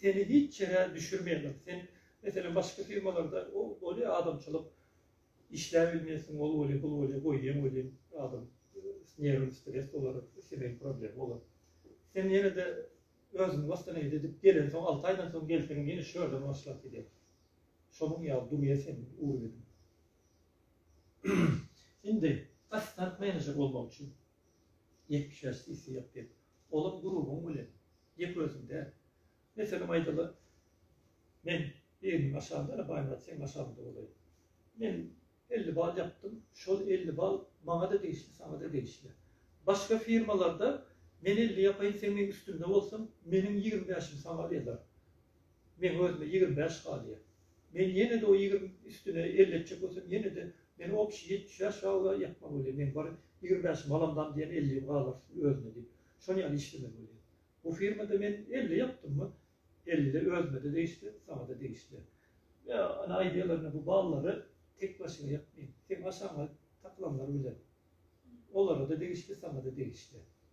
Seni hiç ýere düşürmeýärler. Sen meselem başga firmalarda ol bolýa adamçylyk işläp bilmeýärsiň ol bolýa bul bolýa goýýaň welin adam nerwini stres bolar islemeýän problem bolar. Sen ýene-de özüňi wastanavit edip gelensoň alty aýdan soň gelseňem ýene şu ýerden başlap gidýäň. Şonuň ýaly durýa seniň urbeniň. Indi assistant menejer bolmak üçin ýetmiş bäş cc ýapyp Olam gurubyň bilen gep özüň däl. Meselem aýdaly, men biriniň aşagynda ene Baýmyrat seň aşagyňda bolaýyn. Men elli bal ýapdym, şol elli bal maňa-da degişli, saňa-da degişli. Başga firmalarda men elli ýapaýyn sen meň üstümde bolsaň, meniň ýigrimi bäşim saňa ýazar. Meň özüme ýigrimi bäş galýar. Men ýene-de o ýigrimi üstüne elli etjek bolsam, ýene-de men opşi ýetmiş bäş ýagla ýapmaly bolýar. Meň bir ýigrimi bäş malamdan diýen ellim galar özüne diýip, şon ýaly işlemeli bolýar. Bu firmada men elli ýapdymmy, elli özüme-de degişli, saňa-da degişli. Ýa, ine, aýdýarlar, ine, bu ballary tek başyňa ýapmaýyn. Seň aşagyňa takylanlar bilen. Olara-da degişli, saňa-da degişli.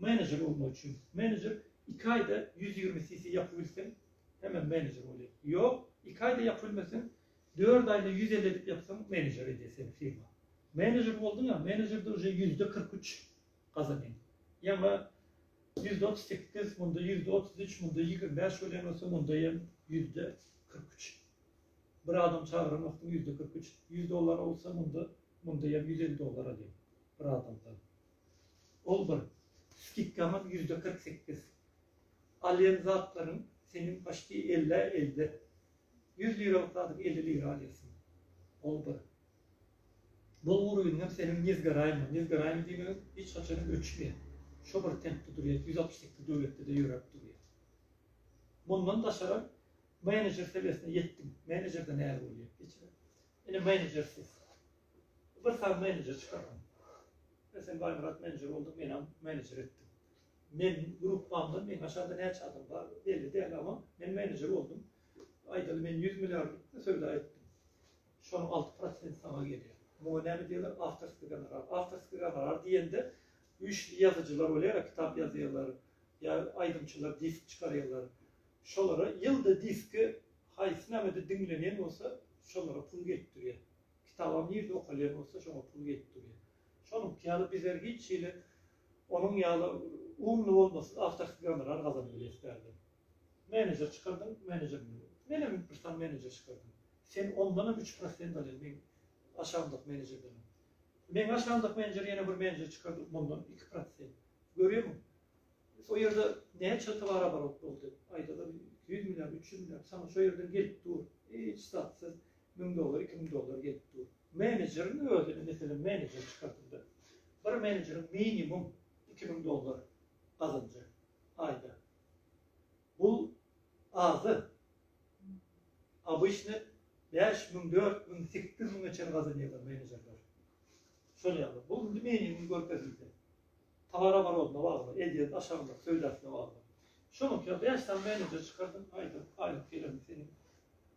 Menejer bolmak üçin menejer iki aýda ýüz ýigrimi cc ýapyp bilseň hemem menejer bolýar. Ýok, iki aýda ýapyp bilmeseň dört aýda ýüz elli edip ýapsaň menejer edýär seni firma. Menejer bolduňa menejerde uje ýüzde kyrk üç gazanyň. Ýaňa ýüzde otuz sekiz munda ýüzde otuz üç munda ýigrimi bäş bolýan bolsa munda ýem ýüzde kyrk üç. Bir adam çagyran wagtyň ýüzde kyrk üç ýüz dollar bolsa munda munda ýem ýüz elli dollar alýaň bir adamdan. Ol bir. Skidkaňam ýüzde kyrk sekiz. Alýan zatlaryň seniň paçti ellä elde. Ýüz liralyk zadyň elli lira alýarsyň. Ol bir. Bolgur ýüňem seniň nezgaraýma, nezgaraýma diýmegem hiç haçanam öçmeýär. Şo bir tempde durýar, ýüz altmyş sekiz döwletde-de ýöräp durýar. Mundan daşaram menejer sebesine ýetdim. Menejer-de näl bolýar, geçiren. Ine menejer siz. Bir sany menejer çykardyň. Sen Baýmyrat menejer bolduň, menem menejer etdim. Meniň gruppamdan meň aşagynda näçe adam bar, belli däl, amma men menejer boldum. Aýdaly, men ýüz milliardlyk söwda etdim. Şonuň alty prosenti saňa gelýär. Muňa näme diýerler? Awtorskiý gonorar. Awtorskiý gonorar diýende, güýçli ýazyjylar bolýar-a, kitap ýazýarlar, ýa aýdymçylar disk çykarýarlar. Şolara ýylda diski haýsy nämede diňlenýän bolsa, şolara pul gelip durýar. Kitaba nirde okalýan bolsa şoňa pul gelip durýar. Şonuňky ýaly bizler hiç hili onuň ýaly umly bolmasyz awtorski gonorar gazanyp bileris däldir. Menejer çykardyň, menejer bilen. Menem bir sany menejer çykardym. Sen ondanam üç prosent alýan meň aşagymdaky menejerdenem. Meň aşagymdaky menejer ýene bir menejer çykardyp mundan iki prosent. Görýärmiň? Şo ýerde näçe towaroborot boldy? Aýdalar iki ýüz milliard, üç ýüz milliard. Saňa şo ýerden gelip dur. Hiç zatsyz Müň dollar, iki müň dollar gelip dur. Menejeriň özüni, meselem, menejer çykardyňda, bir menejeriň minimum iki müň dollar gazanjy aýda. Bu azy. Abyşny bäş müň, dört müň, sekiz müňe çen gazanýarlar menejerler. Şol ýaly. Bu indi minimum görkezildi. Towara barodna bagly, edýän aşagynda söýdäsine bagly. Şonuňka bäş sany menejer çykardyň, aýda aýlyk gelen seniň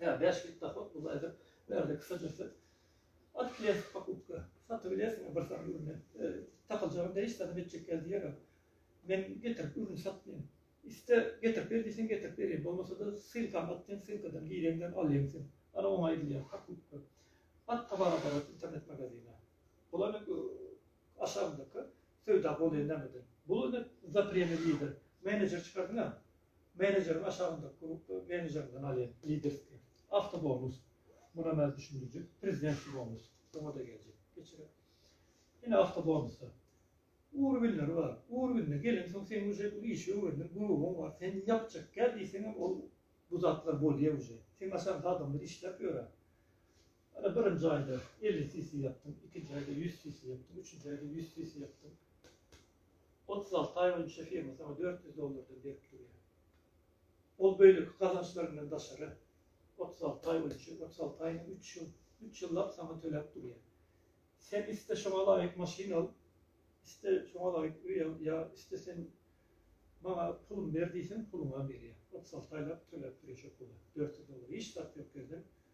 Ýa bäş git dahot bu zaýda bärde kisa dürse alyp bilen pakupka satyp bilersiň bir sany ürüni takyljagyny beş sany bitjek gel diýerem men getirip ürün satmaýan iste getirip ber diýseň getirip berýän bolmasada sylkany at diýen sylkadan gireňden alýaň sen ana oňa aýdylýar pakupka at towara barat internet magazine bular hep aşagyndaky söwda bolýan nämeden bul indi zapremli lider menejer çykardyňa Menejeriň aşagyndaky grupda menejerden alýan liderski awtobonus. Muna emel düşündiriji prezidentski bonus. Oňa-da geljek. Geçirer. Ine awtobonuslar. Urwinleri bar. Urwinde gelensoň sen uje bu işi öwrendiň, gurugyň bar. Sen ýapjak gel diýseňem ol bu zatlar bolýar uje. Seň aşaňda adamlar işläp ýörer. Ine, birinji aýda elli cc ýapdyň, ikinji aýda ýüz cc ýapdyň, üçünji aýda ýüz cc ýapdyň. Otuz alty aý boýunça firma saňa dört ýüz dollardan berip durýar. Ol beýleki gazançlaryndan daşary otuz alty aý boýunça, otuz alty aýyna üç ýyl, üç ýyllap saňa töläp durýar. Sen iste şoňa laýyk maşyn al, iste şoňa laýyk öý al, ýa iste sen maňa pulumy ber diýseň, puluňam berýär. Otuz alty aýlap töläp durýar şo puly, dört ýüz dollar. Hiç zat ýok ýerden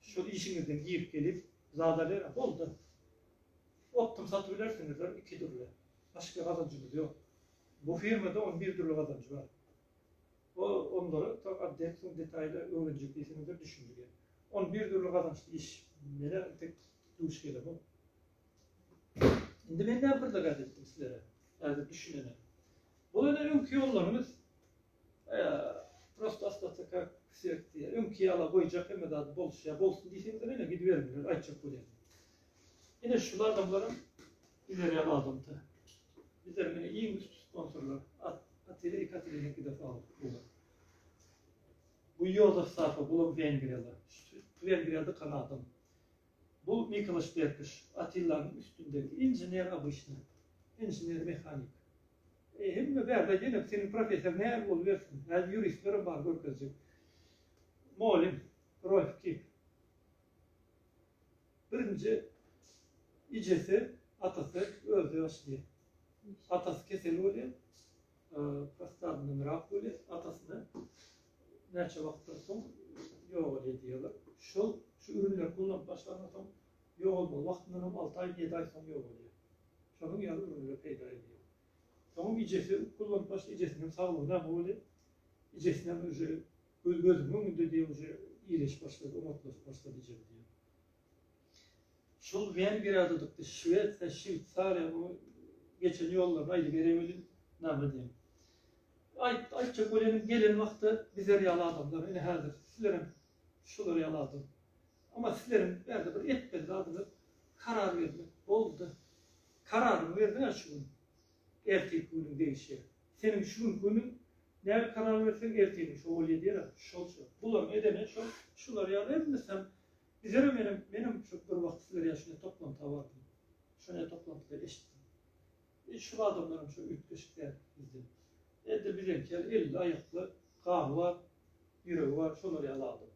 Şol işiňizden girip gelip zadalera bolda optym satyp bilersiňizler iki dürli başka gazanjymyz yok bu firmada on bir dürli gazanjy bar o onlara tok adden soň detaýly öwrenjek diýseňizler düşünjige on bir dürli gazançly iş mene tek duş gelemok indi men näme bir zat etdim sizlere häzir düşünene bu ene öňki ýollaryňyz Ýa, prosto ostata kak svet diýýär. Öňki ýala goýjak hemme zady bolşy. Ýa, bolsun diýseňizem ýene gidiberiňler, aýtjak bolýan. Ine, şul adamlaram bilerýän adam-da. Bizleriň ine iň üsti sponsorlar. At, Atile i Katilenikide fabrik bular. Bu Ýozef Safa, bulam Wengriýaly. Şu Wengriýada kalan adam. Bu Nikolaş Berkiş, Atillanyň üstündäki inžener obyçny, inžener mehanik. Eý, hemme bärde ýene seniň professor näme bolubersin, häzir ýuristlerem bar görkezjek. Mugallym, Rolf Kip. Birinji ijesi, atasy, özde ýagşy diýýär. Atasy kesel bolýar. Postalanynrak weli atasyny näçe wagtdan soň ýogalýar diýýärler. Şol şu ürünleri gullanyp başlandan soň ýogalmaly wagtyndan hem alty aý, ýedi aý soň ýogalýar. Şonuň ýaly ürünler peýda edýär. Soňam ejesi gullanyp başlaýar, ejesiniň hem saglygy näme bolýar. Ejesini hem uje göz gözümiň öňünde diýýär uje iýleşip başlady, oňatlaşyp başlady ejem diýýär. Şol Wengriýa dudukdy, Şwesiýa, Şweýsariýa o geçen ýollaryny aýdybereý welin, name diýeň. Aýt, aýtjak bolenim gelen wagtda bizer ýaly adamlar, ine häzir sizlerem şular ýaly adam. Amma sizleriň bärde bir etmeli zadyňyz karar bermek. Boldy. Kararyňy berdiň-ä şu gün. Ertirki günüň degişýär. Seniň şu günki günüň näme karar berseň ertirki şo bol ýedýär-ä. Şol şu. Bularyň edeni şol, şular ýaly hemmesem Bizerem menem, menem şu bir wagt sizler ýaly şunday toplantyga bardym. Şonda toplantyda eşitdim. E, şu adamlaram şu üýtgeşik däl bizde. Elde bizeňki ýaly elli aýakly, gany bar, ýüregi bar, şolar ýaly adam.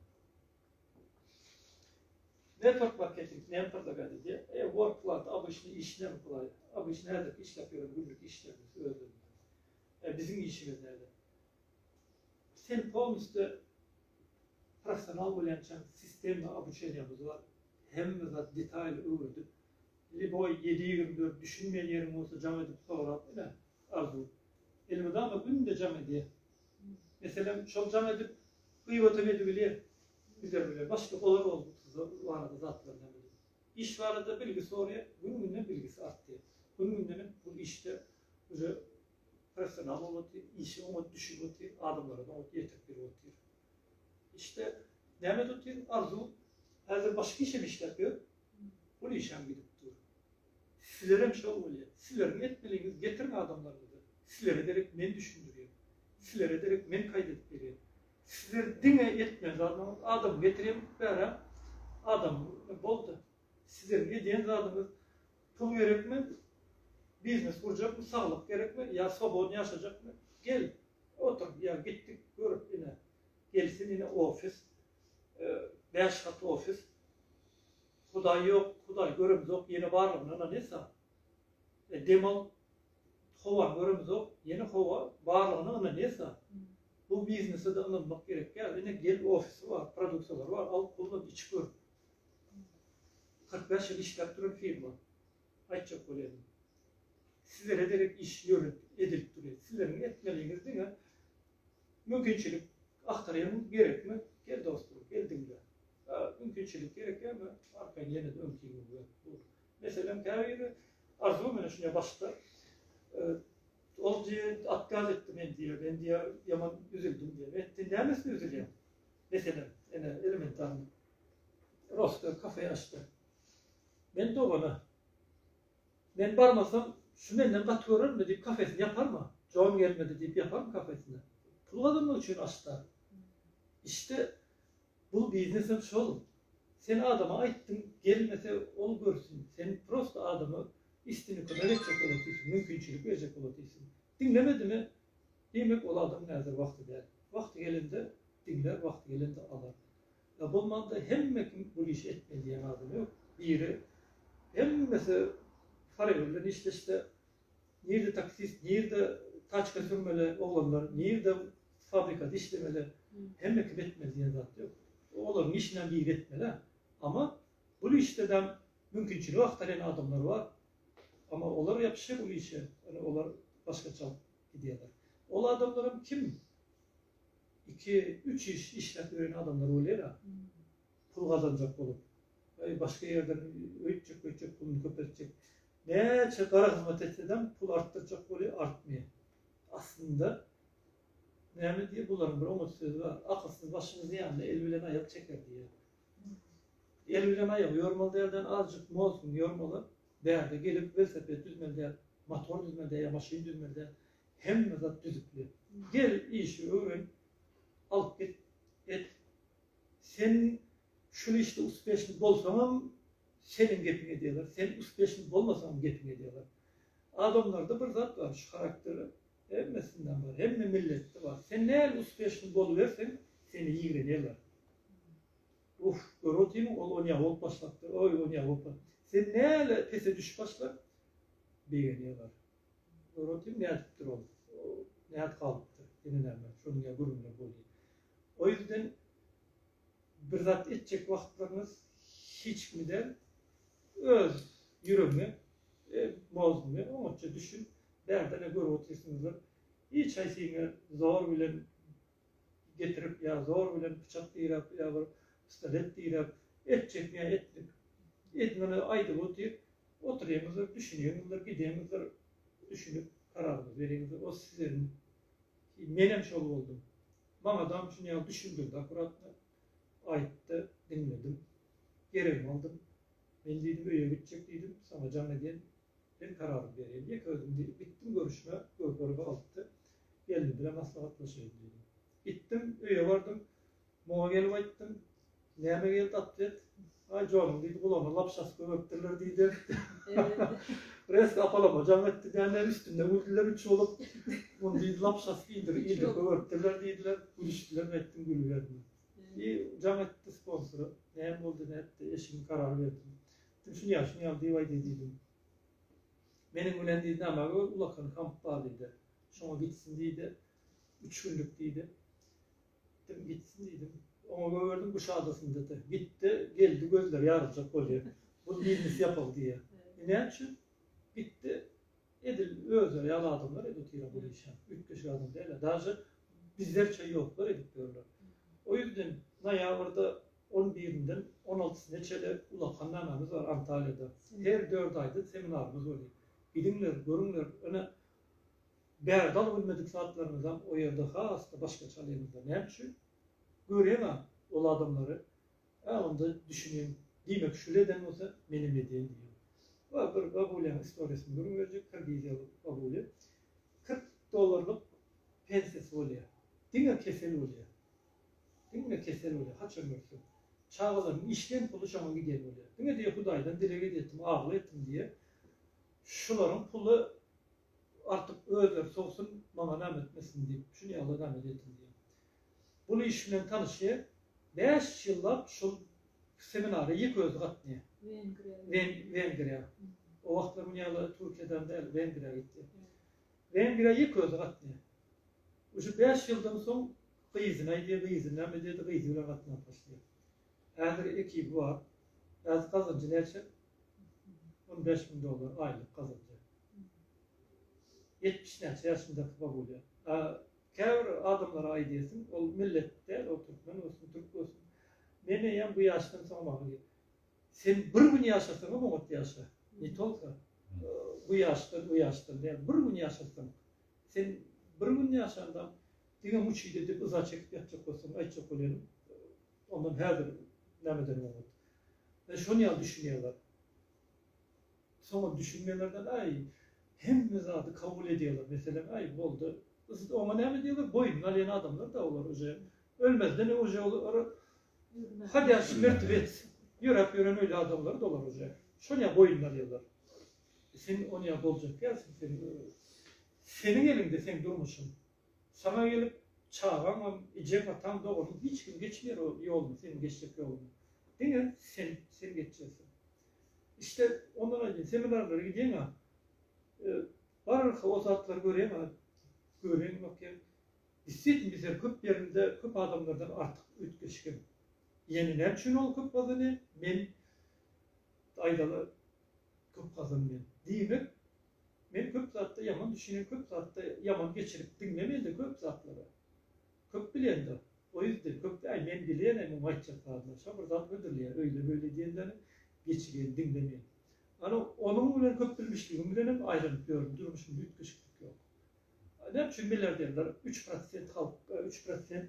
Network marketing näme predlagady diýe. E, work plat, obyçny iş näme plat. Obyçny häzirki işläp ýören günlük işlerimiz özlerinde. E, biziň işimiz näde? Sen polniste Professional bolýançaň sistemny obuçeniýamyz bar. Hemme zat detaýly öwredip, liboý ýedi ýigrimi dört düşünmeýän ýeriň bolsa jaň edip sorap bile, Arzuw. Elmydama günde jaň edýä. Meselem, şol jaň edip, gybatam edibilýä. Bize bile başga bolar ol barada zatlar nämedim. Iş barada bilgi soraýa, gün-günden bilgisi artýa. Gün-gündenem bu işde uje professional bolup otyr, işi oňat düşüp otyr, adamlara-da oňat ýetik bilip otyr. Işde näme edip otyr? Arzuw häzir başga iş hem işläp ýör. Ol işem gidip dur. Sizlerem şol bolýar. Sizleriň etmeliňiz getiriň adamlaryňyzy. Sizlere derek men düşündirýän. Sizlere derek men kaýda edip berýän. Sizler diňe etmeli zadyňyz adam getirýän bärä adam boldy. Sizleriň edýän zadyňyz Pul gerekmi? Biznes gurjakmy? Saglyk gerekmi? Ýa swobodny ýaşajakmy? Gel, otur, ýa gitdik, görüp, ine, gelsin, ine, ofis, bäş gat ofis. Hudaý ýok, Hudaý göremizok, ýene barlygyna ynanýasa, dem al, howany göremizok, ýene howa, barlygyna ynanýasa, bu biznese-de ynanmak gerek däl. Ine, gel, ofisi bar, produksiýalary bar, al, kullan, iç gör, Kyrk bäş ýyl işläp duran firma. Aýtjak bolýadym. Sizlere derek iş ýörüp, edilip durýar. Sizleriň etmeliňiz diňe mümkinçilik agtarýan gerekmi? Gel dostum, gel diňle. Mümkinçilik gerekmi? Arkaýyn ýene-de öňkiňi gör. Bu meselem käbiri arzuw bilen şunday başlar. Ol diýýär, otkaz etdi men diýýär. Men diýýär, ýaman üzüldim diýýär. Etdi, nämesine üzülýäň? Meselem, ene, elementarny. Rostga kafe açdy. Men dogana. Men barmasam, şu menden gaty görermi diýip kafesini ýaparmy? Jon gelmedi diýip ýaparmy kafesini? Pul gazanmak üçin açdy. Işte, bu biznes hem şol. Sen adama aýtdyň, gelmese, ol görsün. Sen prosta adama üstüni kömek etjek bolat diýsin, mümkinçilik berjek bolat diýsin. Diňlemedimi, diýmek, ol adam häzir wagty däl. Wagty gelende, Diňlär wagty gelende alar. Ýa bolmanda hemme kim bul işi etmeli diýen adam ýok. Biri hemmesi parayla bilen işleşse nirde taksist nirde taçka sürmeli oglanlar nirde fabrikada işlemeli hemme kim etmeli diýen zat ýok. Olaryň işinden biri etmeli. Ama bul işde däm mümkinçiligi agtarýan adamlar bar. Ama olar ýapyşýar bul işe. Ýöne olar başgaça gidýärler. Ol adamlaram kim? iki üç iş işläp ýören adamlar bolýara pul gazanjak bolup we başga ýerden öýtjek buýtjek puluny köpeltjek näçe gara hyzmat etsedem pul artdyrjak bolýar artmaýar aslynda näme diýýär bularyň bir oňat sözi bar akylsyz başyny zyýanla el bilen aýak çeker diýýär el bilen aýak ýormaly däl däl azjyk mozguny ýormaly bärde gelip welosiped düzmeli däl motor düzmeli däl ýa maşyn düzmeli däl Hemme zat düzükli. Gel işi öwren. Alyp git. Et. Sen şul işde uspeşni bolsaňam seniň gepiňi edýärler. Sen uspeşni bolmasaňam gepiňi edýärler. Adamlarda bir zat bar, şu harakter hemmesinde bar, hemme milletde bar. Sen näl uspeşni boluberseň, seni ýigrenerler. Uf, gör otyrmy, ol onýa bolup başlapdyr, oý, onýa bolup. Sen näle pese düşüp başla, begenerler. Öwredýän nädipdir ol. Näet galypdyr ýene näme şony ýa görmeler bolýa. O ýüzden bir zat etjek wagtlaryňyz hiç kimi däl öz ýüregiňe e mozguňe oňatja düşün bärde ne görüp otyrsyňyzlar hiç haýsyňa zor bilen getirip ýa zor bilen pyçak diräp ýa bir pistolet diräp et çekýän etlik edmeli aýdyp otyr otyryňyzdyr düşüniňizdir gidiňizdir düşünip kararyňyzy beriňizdir o sizeriň menem şol boldum maňadam şun ýaly düşündirdi akuratno aýtdy diňledim geregimi aldym men diýdim öýe gitjek diýdim saňa jaň edýän Men kararymy berýän ýeke özüm diýip gitdim görüşmä Gökleri galdypdy. Gelnim bilen maslahatlaşaýyn diýdim. Gitdim öýe bardym. Muňa gelip aýtdym. Näme geldi atwet? Aý joluň diýdi gulagyna lapşasy gömüpdirler diýdi. Resk apalama jaň etdi däne üstümden güldüler üç bolup. Muny diýdi lapşasy giýdirip ilde gömüpdirler diýdiler. Gülüşdiler aýtdym gülüberme. I jaň etdi sponsora. Näme boldy nätdi eşigini karar berdim. Düşün ýaşyň ýaly diýip aýdaý diýdi. Meniň bilen diýdi näme bir ulakan kamp bar diýdi. Şoňa gitsin diýdi. Üç günlük diýdi. Gitdim gitsin diýdim. Oňa göwerdim bu şadasynda da. Gitdi, geldi gözleri ýaryljak bolýar. Bu biznes ýapyk diýýär. E näme üçin? Gitdi. Edil özleri ýaly adamlar edip otyr bu işe. Üýtgeşik adam däl. Daže bizlerçe ýoklar edip ýörler. O ýüzden noýabrda On birinden on altysyna çenli ulag hannamamyz bar Antalýada. Her dört aýda seminarymyz bolýar. Gidiňler, görüňler, ine, bärde alybilmedik zatlarymyzam o ýerde has-da başgaça alýamyzda. Näme üçin? Görýäň-ä ol adamlary, ä onda düşünýäň, diýmek, şuly eden bolsa, menem edýän diýýäň. Wa, bir babulýaň istoriýasyny gürrüň berjek, kirgiziýaly babuly. Kyrk dollarlyk pensiýasy bolýar. Diňe kesel bolýar. Diňe kesel bolýar haçan görsem. Çagalarymyň işleýän puly şoňa gidýän bolýar. Diňe diýýär Hudaýdan dileg edýärdim, agyl etdim diýýär. Şularyň puly artyp özleri sowsun, maňa näme etmesin diýip, şuny Alla näme edýärdim diýýär. Bul iş bilen tanyşýar. Bäş ýyllap şul seminara ýeke özi gatnaýar. Wengriýa. Wengriýa. O wagtlar muny ýaly Türkiýeden däl, Wengriýa gitdi. Wengriýa ýeke özi gatnaýar. Uje bäş ýyldan soň Gyzyny aýdýar, gyzy näme diýdi, gyzy bilen gatnaşyp başlaýar. Häzir ekibi bar. Häzir gazanjy näçe? On bäş müň dollar aýlyk gazanýar. Ýetmiş näçe ýaşyndaky babulýa. A käbir adamlara aýdýarsyň, ol millet däl, ol türkmen bolsun, türk bolsun. Men eýýäm bu ýaşdan soň maňa gel. Sen bir gün ýaşasaňam oňat ýaşa. Ne tolka bu ýaşdan, o ýaşdan däl. Bir gün ýaşasaň. Sen bir gün ýaşandam Diňe muçidi edip yza çekip ýatjak bolsaň aýtjak bolýanym ondan häzir nämeden oňat. Men şony ýaly düşünýärler. Soňam düşünmeýärlerden aý hemme zady kabul edýärler meselem aý boldy yz oňa näme diýerler boýnuny alýan adamlar da olar uje ölmezden uje olar hadýa şmrt bet ýöräp ýören öýli adamlar da olar uje şony ýa boýnuny alýarlar sen ony ýa boljak ýa sen seniň eliňde seň durmuşyň Saňa gelip çagaňam, ejeň, ataň, doganyň hiç kim geçmeýär ol ýoluny, seniň geçjek ýoluňy. Diňe sen, sen geçjeksin. Işde ondan aýdýan, seminarlara gidýäň-ä, bararka o zatlary görýäň-ä, göwräňe bakýaň, Gitseýdim bize köp ýerinde köp adamlardan artyk üýtgeşikim. Ýene näme üçin ol köp gazanýar, men aýdaly köp gazanmaýan. Diýmek, Men köp zatda ýaman düşünen köp zatda ýaman geçirip diňle mende köp zatlary köp bilendir o ýüzden köp äý men bilenem muňa aýtjak zadlar şo bir zat hödürleýär öýle böyle diýenleri geçiren diňle men ana onuň bilen köp bilmişligim bilenem aýranyp ýörün durmuşymda üýtgeşiklik ýok näme üçin milliarderler üç prosent halk üç prosent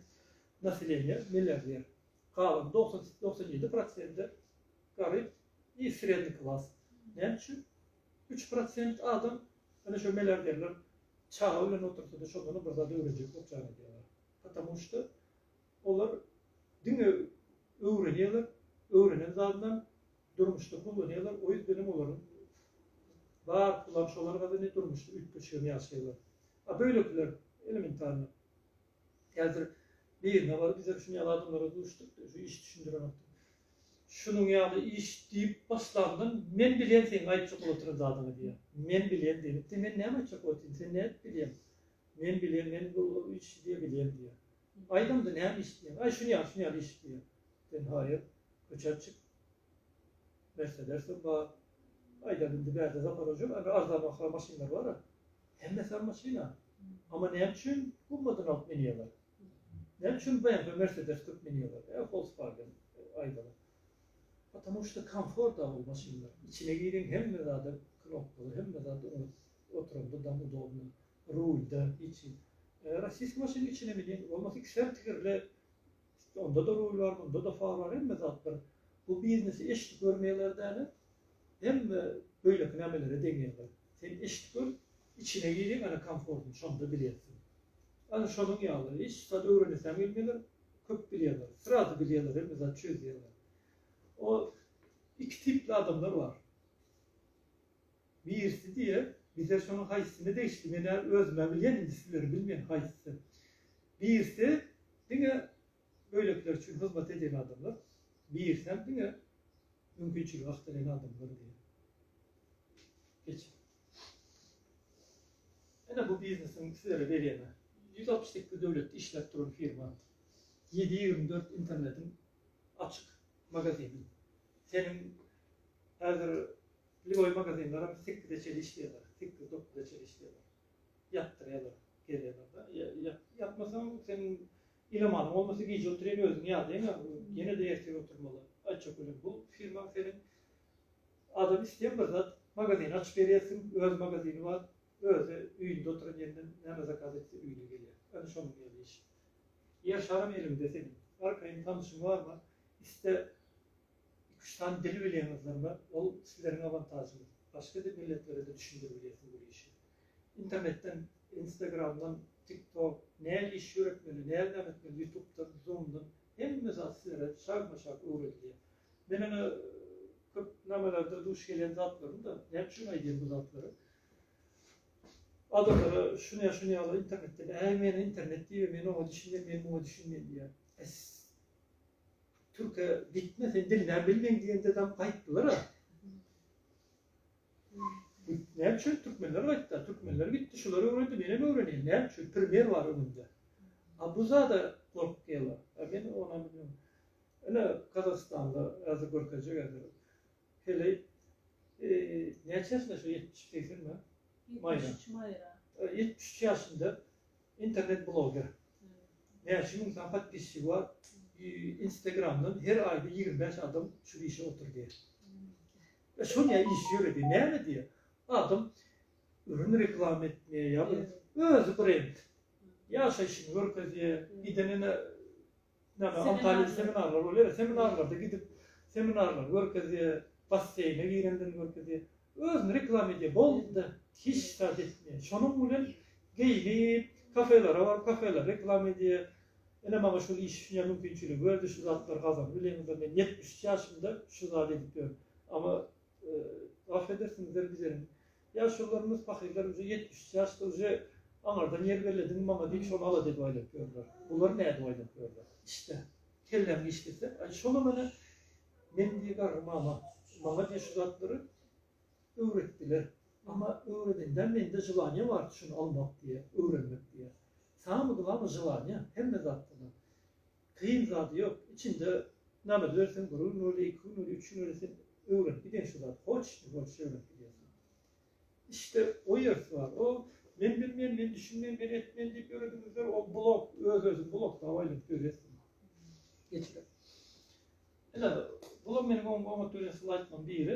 naseleniýe milliarder galan dogsan doksan ýedi prosenti garyp i sredni klas näme üçin Üç prosent adam ine şo milliarderler çaga bilen otursada şondanam bir zat öwrenjek bolup jan edýärler. Patamu şda olar diňe öwrenýärler, öwrenen zadynam durmuşda kullanýarlar, o ýüzdenem olaryň bar pulam şolar gazanýar durmuşda üýtgeşigem ýaşaýarlar. A böýlekiler elementarno Häzir birine baryp bize şuny ýaly adamlara duşduk diýip şu işi düşündirenokdy. Şunuň ýaly iş diýip başlandan men bilýän seň aýtjak bolup oturan zadyňy diýýär. Men bilýän diýlipdi men näme aýtjak bolup otyryn sen nädip bilýäň. Men bilýän men bu işi diýe bilýän diýýär. Aýt onda näme iş diýýän. Aý şuny ýaly şuny ýaly iş diýýär. Sen haýyr köçä çyk Mersedes hem bar. Aýdar indi bärde zaman öjüň indi arzanbaha maşynlar bara. Hemmesi hem maşyna. Amma näme üçin gummadan alyp minýärler? Näme üçin BMW Mersedes köp minýärler? Ýa Volkswagen aýdaly. Потому что komfort da ol maşynlar. Içine giriň hemme zada knopkalar hemme zat oňat. Oturanda dam udobno. Rulda hiç. Rossiýski maşynyň içine miniň bolmasa iki sert tigirli Çünki onda-da ruý bar, bunda-da far bar, hemme zat bir. Bu biznesi eşidip görmeýärler däl-ä. Hemme beýleki nämelere deňeýärler. Sen eşidip gör, içine giriň ene komfortyň, şonda bilýärsiň. Ana şonuň ýaly, hiç zat öwrenesäň gelmeýärler, köp bilýärler. Srazy bilýärler, hemme zat çözýärler. O iki tipli adamlar bar. Birisi diýer, Bize şonuň haýsysyna degişli, men-ä özüm-ä bilýän, indi sizleri bilmen haýsysy. Birisi diňe beýlekiler üçin hyzmat edýän adamlar, birisem diňe mümkinçiligi agtalaýan adamlar diýer. Geçiň. Ene bu biznesiň sizlere berýän-ä. Ýüz altmyş sekiz döwletde işläp duran firma. Ýedi ýigrimi dört internetiň açyk magazini. Seniň häzir Pil boýy magazinlerem sekize çenli işleýärler, sekiz, dokuza çenli işleýärler. Ýatdyrýarlar, gelýärler-de. Ýatmasaň, sen ile malyň bolmasa, gije oturýan özüň ýadaýyň, ýene-de ertir oturmaly. Aý çökeliň, bu firmaň seniň adam isleýän bir zat, magazin açyp berýärsiň, öz magazini bar, özi öýünde oturan ýerinden näme zakaz etse öýüne gelýär. Ýöne şonuň ýaly iş. Ýer şaram eliňde seniň. Arkaýyn tanyşyň barmy? Iste Iki-üç sany dil bilýäňizler bar, ol sizleriň awantažyňyz. Başga dil milletlere-de düşündirip bilýärsiň bu işi. Internetden, Instagramdan, TikTok, näl iş ýöretmeli, näl näme etmeli, Ýutubdan, Zoomdan, hemme zat sizlere şagma-şag öwredilýär. Men ene köp namelerdir duş gelýän zatlarym-da, näme üçin aýdýan bu zatlary? Adamlara şuny-şuny ýaly internetden, äý men internet diýibem, men oňa düşünýän, men muňa düşünýän diýýär. Bes! Türke gitme sen dilini bilmeýin diýende dam gaýtdylar. Ne üçin türkmenler gaýtdy? Türkmenler gitdi, şular öwrendi, men hem öwrenýän. Ne üçin primer bar öňünde? A bu zada gorkýarlar. A men ona bilmem. Ine Kazakstanda azy görkezjek eder. Hele e, neçesinde şu 70 80 mi? Mayra. 73 ýaşynda Internet bloger. Näçe müň sany podpisçigi bar. Instagramdan her aýda ýigrimi bäş adam şu işe otur diýýär. E şony ýa iş ýöredi, näme diýýär? Adam ürün reklama etmeýär, ýa bir özi brend. Ýaşaýşyny görkezýär, gidenine Näme Antalýada seminarlar bolýar, seminarlarda gidip seminarlary görkezýär, basseýne girendigini görkezýär. Özüni reklama edýär, boldy-da, hiç zat etmeýär. Şonuň bilen geýnip, kafelere baryp, kafeleri reklama edýär. Ine maňa şul iş şu ýer mümkinçiligi berdi, şu zatlary gazanyp bileňizdir, men ýetmiş üç ýaşymda şu zady edip ýörün. Amma, gafa edersiňizler, bizeniň Ýaşulylarymyz pahyrlar uje ýetmiş üç ýaşda uje aňardan ýer bellediň maňa diýip şony ala dek aýlap ýörler. Bular nädip aýlap ýörler. Işte. Kelläň giç gitse aý şonam ene men diýe garry mama maňa diýe şu zatlary öwretdiler. Amma öwredendem mende želaniýa bardy şony almak diýe öwrenmek diýe. Saňa mydama želaniýa hemme zatdana. Kyn zady ýok içinde name dörsen bir gün boldy iki gün boldy üç gün boldy sen öwrenip gidýäň şu zady hoç ne hoç öwrenip gidýärsiň işte o ýersi bar o men bilmen men düşünmen men etmen diýip ýörediňizler o blok öz özüni blokda aýlanyp ýörýärsiň geçirip ine bular meniň oňat görýän slaytlaryň biri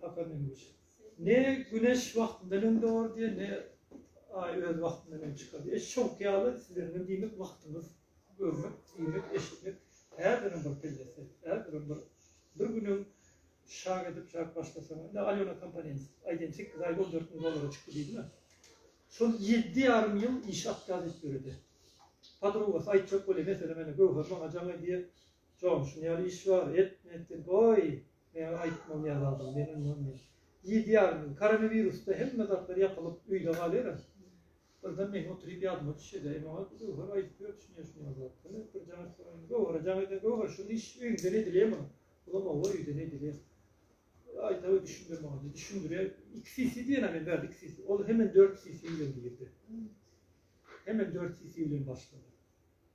Hakan Ünüç. Ne güneş wagtyndan öň dogary diýer, ne Aý öz wagtyndan öň çykar diýer. Eş şowky ýaly sizeniňem diýmek wagtyňyz görmek, diýmek, eşitmek häzirem bir pellesi, häzirem bir bir günüň şak edip şak başlasaň, indi Alýona Komponents aýdan sekiz aýda on dört müň dollara çykdy diýdiňä. Şol ýedi ýarym ýyl iş atýar diýip ýöredi. Podrugasy aýtjak bolýar, meselem, ene Göwher maňa jaň edýär, Jon, şuny ýaly iş bar, et, men etdim, goý, Meň aýtmam ýaly adam men ondan men ýedi ýarym koronawirusda hemme zatlar ýapylyp öýde galyra. Birden meň oturyp ýadyma düşedi. Emma ol Göwher aýdyp ýördi şuny ýa şuny ýaly zat. Ine bir jan soraýyn. Göwhere jan eden Göwher şuny iş öýüňden edilýärmi? Olam owa öýden edilýär. Aýdawy düşündir maňa diýdi. Düşündirýär. Iki sisi diýen men bärde iki sisi. Ol hemen dört sisi bilen girdi. Hemen dört sisi bilen başlady.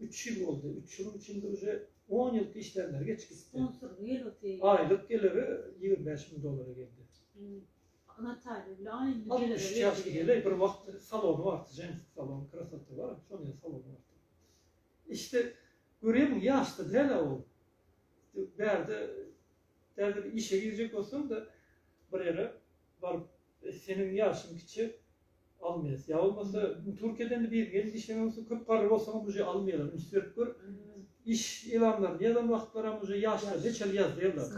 Üç ýyl boldy. Üç ýylyň içinde uje on ýylky işlemleri geçip gitdi. Sponsorlyk ýyl öti. Aýlyk geliri ýigrimi bäş müň dollara geldi. Natalýa bilen aýlyk geliri. Altmyş üç ýaşly gelin bir wagt salony bardy, jenski salon, krasota bar, şonuň salony bardy. Işde görýärmiň, ýaş-da däl-ä ol. Bärde Däl bir işe girjek bolsaň-da, bir ýere baryp, seniň ýaşyň kiçi, almaýas. Ýa bolmasa, Türkiýeden-de biriň elinde işlemek bolsa, köp garry bolsaňam uje almaýarlar. Üns berip gör, iş elanlaryny ýazan wagtlaram uje ýaşlaryny heçhili ýazýarlar.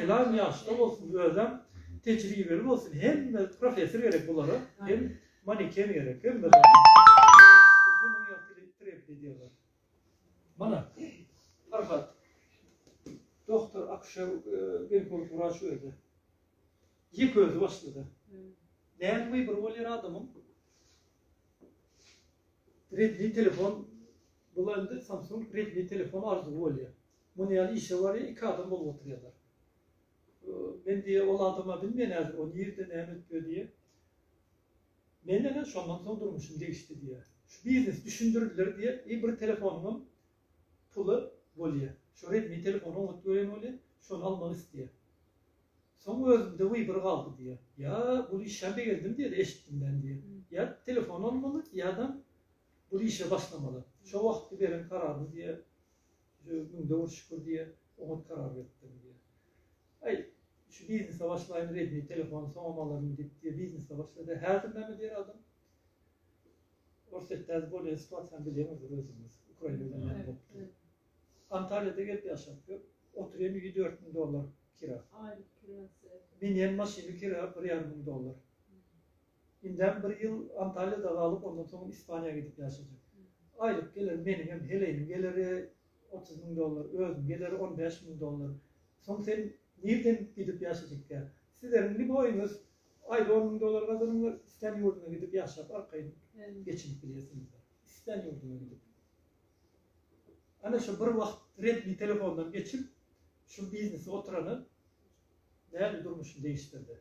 Elan ýaşda bolsun, özem tejribeli bolsun. Hemme professor gerek bulara, hem maneken gerek, hemme zat. Şunuň ýaly treb edýärler. Mana, Farhat, doktor, akuşer, ginekolog wraç özi. Ýek özi başlady. Näme bir bolýar adamyň? Redmi telefon, bu indi Samsung Redmi telefon arzuwy bolýar. Muny ýaly işe barýar, iki adam bolup oturýarlar. Men diýe ol adama bilmeýän häzir, o nirde näme etýär diýe. Mende-de şondan soň durmuşym degişdi diýýär. Şu biznes düşündiriler diýe i bir telefonyňam puly bolýa. Şu redmi telefony oňat gören bolýa, şony almak isleýär. Soň özümde wybor galdy diýýär. Ýa bul işem begendim diýdi eşitdim men diýýär. Ýa telefon almaly ýa-da bul işe başlamaly. Şo wagtky beren kararymy diýýär Jüz müň döwür şükür diýýär, oňat karar beripdirin diýýär. Aý, şu biznese başlaýyn, Redmi telefony soňam alaryn diýip diýýär, biznese başlady. Häzir näme diýer adam? Orsýetde häzir bolýan situasiýany bilýäňizdir özüňiz. Ukraina bilen näme bolupdyr. Antalýada gelip ýaşap ýör. Oturýan öýi dört müň dollar kira. Aýlyk kirasy. Binýän maşyny kira bir ýarym müň dollar. Indem bir ýyl Antalýada galyp, ondan soň Ispaniýa gidip ýaşajak. Aýlyk geler, meniň hem heleýimiň geleri otuz müň dollar, özüň geleri on bäş müň dollar. Soň sen nirden gidip ýaşajykka? Sizleriň liboýyňyz aýda on müň dollar gazanyňlar, islän ýurduňa gidip ýaşap arkaýyn geçinip bilýärsiňizler. Islän ýurduňa gidip. Ana şu bir wagt Redmi telefondan geçip, şu biznesi oturana däli durmuşyny degişdirdi.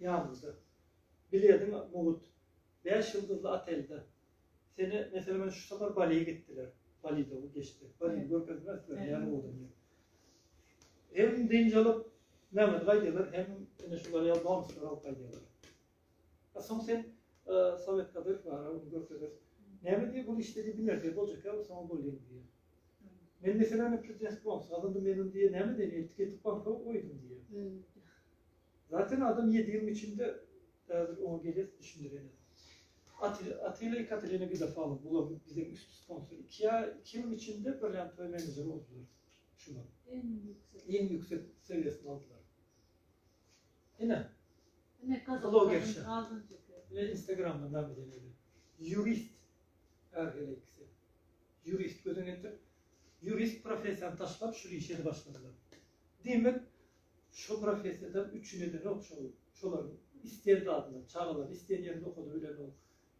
ýanymda. Bilediň, mugut, bäş ýyldyzly otelde. Seni, meselem, men şu sapar Baliýa gitdiler. Baliýda bu geçdi. Baliýny görkezmezdiler, näme boldy diýip. Hem dynç alyp, Mämmet gaýdýarlar, hem ine şular ýaly bonuslar alyp gaýdýarlar. A soň sen Sowet Kadyrow bar, ony görkezip, Näme diýip, ol işde diýip, bir nerse boljak, ýa soň bolýar diýip. Men, meselem, prezidentlik bonusy gazandym, men ony diýip, näme edeyim, eltip, getip, banka goýdum diýip. Zaten adam ýedi ýylyň içinde häzir oňa geles düşündirenem. Atilla i Katerina Gidafalov bular biziň üst sponsor. Iki ýa iki ýylyň içinde Brilliant Toy Manager boldular. Şular. Iň ýüksek. Iň ýüksek sewiýesini aldylar. Ine. Ine blogerşa. Ine Instagramda näme diýildi? Jurist. Her hili ikisi. Jurist gözüň ýetir. Jurist professiýany taşlap şu işe başladylar. Diýmek, Şu professiýada üçin edenok şol şolar isleýän zadyny çagalaryny isleýän ýerinde okadyp bilenok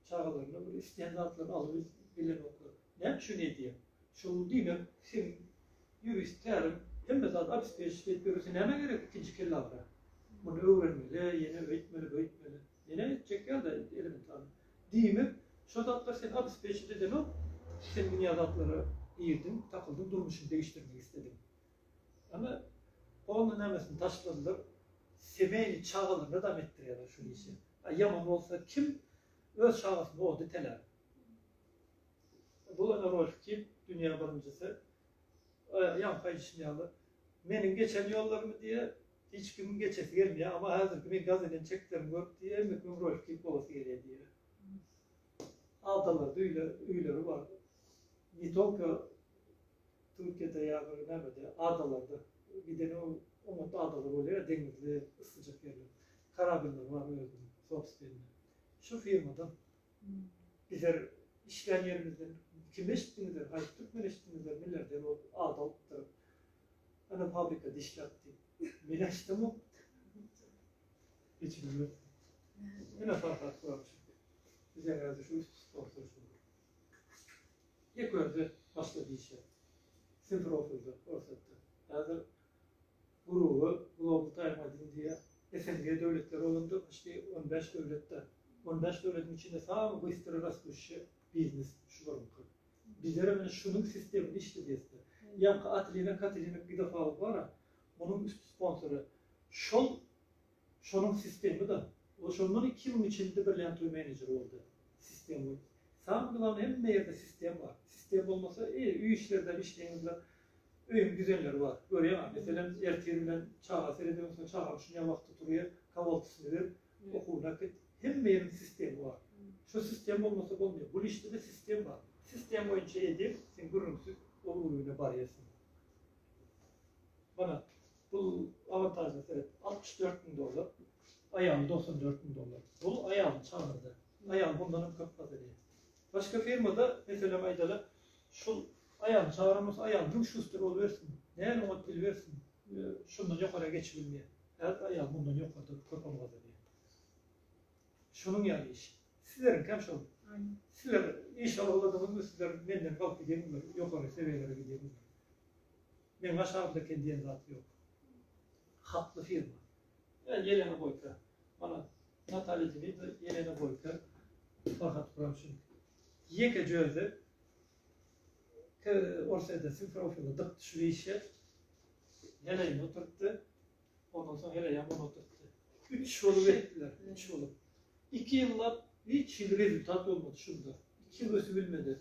çagalaryna bir isleýän zatlaryny alyp bilenoklar näme üçin edýär şol diýmek sen ýurist tälim hemme zat abespežit edip ýörese näme gerek ikinji kellagra muny öwrenmeli ýene öýtmeli böytmeli ýene etjek ýa-da elementarny diýmek şo zatlar sen abespežit edenok sen dünýä zatlara girdiň takyldyň durmuşyňy degişdirmek islediň Ýöne onda nämesini taşladylar. Semeni çagalaryna dam etdirýärler şu işi. A ýaman bolsa kim öz çagasyny oda itelär. Bu ene Rolf Kip dünýä birinjisi. Aýagy ýaňky aýdyşym ýaly meniň geçen ýollarymy diýýär. Hiç kimiň geçesi gelmeýär. Emma häzirki meň gaz eden çeklerimi görüp diýýär, indi kimiň Rolf Kip bolasy gelýär diýýär. Aldalarda öýleri bar. Ne tolko Türkiýede ýa-da nämede, adalarda, gidene oňatda adalar bolýar, deňizli, yssyjak ýerler. Karabinleri bar özüniň sobstwenni. Şu firmadan bizler işlän ýerimizden kim eşitdiňizler, haýsy türkmen eşitdiňizler, milliarder bolup, at alypdyr, ana fabrika dişläp diýip. Men eşidemok. Hiç bilmedim. Ene Farhat Gurakow. Bizden häzir şu üç sponsor şu. Ilk görde başga dişe Simferopolda Orsýetde häzir gruba Global Time Magazine diýýär. SNG döwletleri bolanda puşti on bäş döwletde. On bäş döwletiň içinde samy bystra rastuşşy biznes şu buruňky. Bizerem ine şunuň sistemini işledýäsda. Ýaňky Atlina Katlina pidofal bara onuň üsti sponsory şol Şonuň sistemida ol şondan iki ýylyň içinde birlen toý menejeri boldy. Sistem we Samy glawny hemme ýerde sistem bar. Sistem bolmasa e öý işlerden işleýinizler öýüň düzenleri bar. Görýäňa meselem ertir bilen çaga seredýän soň çagaň şunýa wagty turýa kawaltysny ber okuwyna git. Hemme ýeriň sistemi bar. Şu sistem bolmasa bolmaýa. Bul işdede sistem bar. Sistem boýunça edil sen gürrüňsiz ol urugyna barýarsyň. Mana. Bu avantajly sebet altmyş dört müň dollar, aýaly doksan dört müň dollar. Bu aýalyň çagyrydy. Aýal bundan hem köp zat edýär. Başga firmada, meselem aýdaly, şu aýalyň çagyran bolsa, aýal müň şuster bolubersin, näme ot bilibersin, şundan ýokara geçip bilmeýär. Häzir aýal mundan ýokarda köp pul gazanýar. Şunuň ýaly iş. Sizleriňki hem şol. Sizler iş aladyňyzmy, sizler menden galyp gidýärmiňiz, ýokary sebiýelere gidýärmiňiz? Meň aşagymda eken diýen zat ýok. Hatly firma. Ýa Ýelena Boýka. Mana Natalýa Demidler, Ýelena Boýka, Farhat Guramçynyňky. Ýekeje özi te Orsýetde Simferopoly dyk düşüp işe heleýini oturtdy. Ondan soň heleýem muny oturtdy. Üç bolup etdiler, üç bolup. Iki ýyllap hiç hili rezultat bolmady şunda. Iki ýyl ösübilmedi.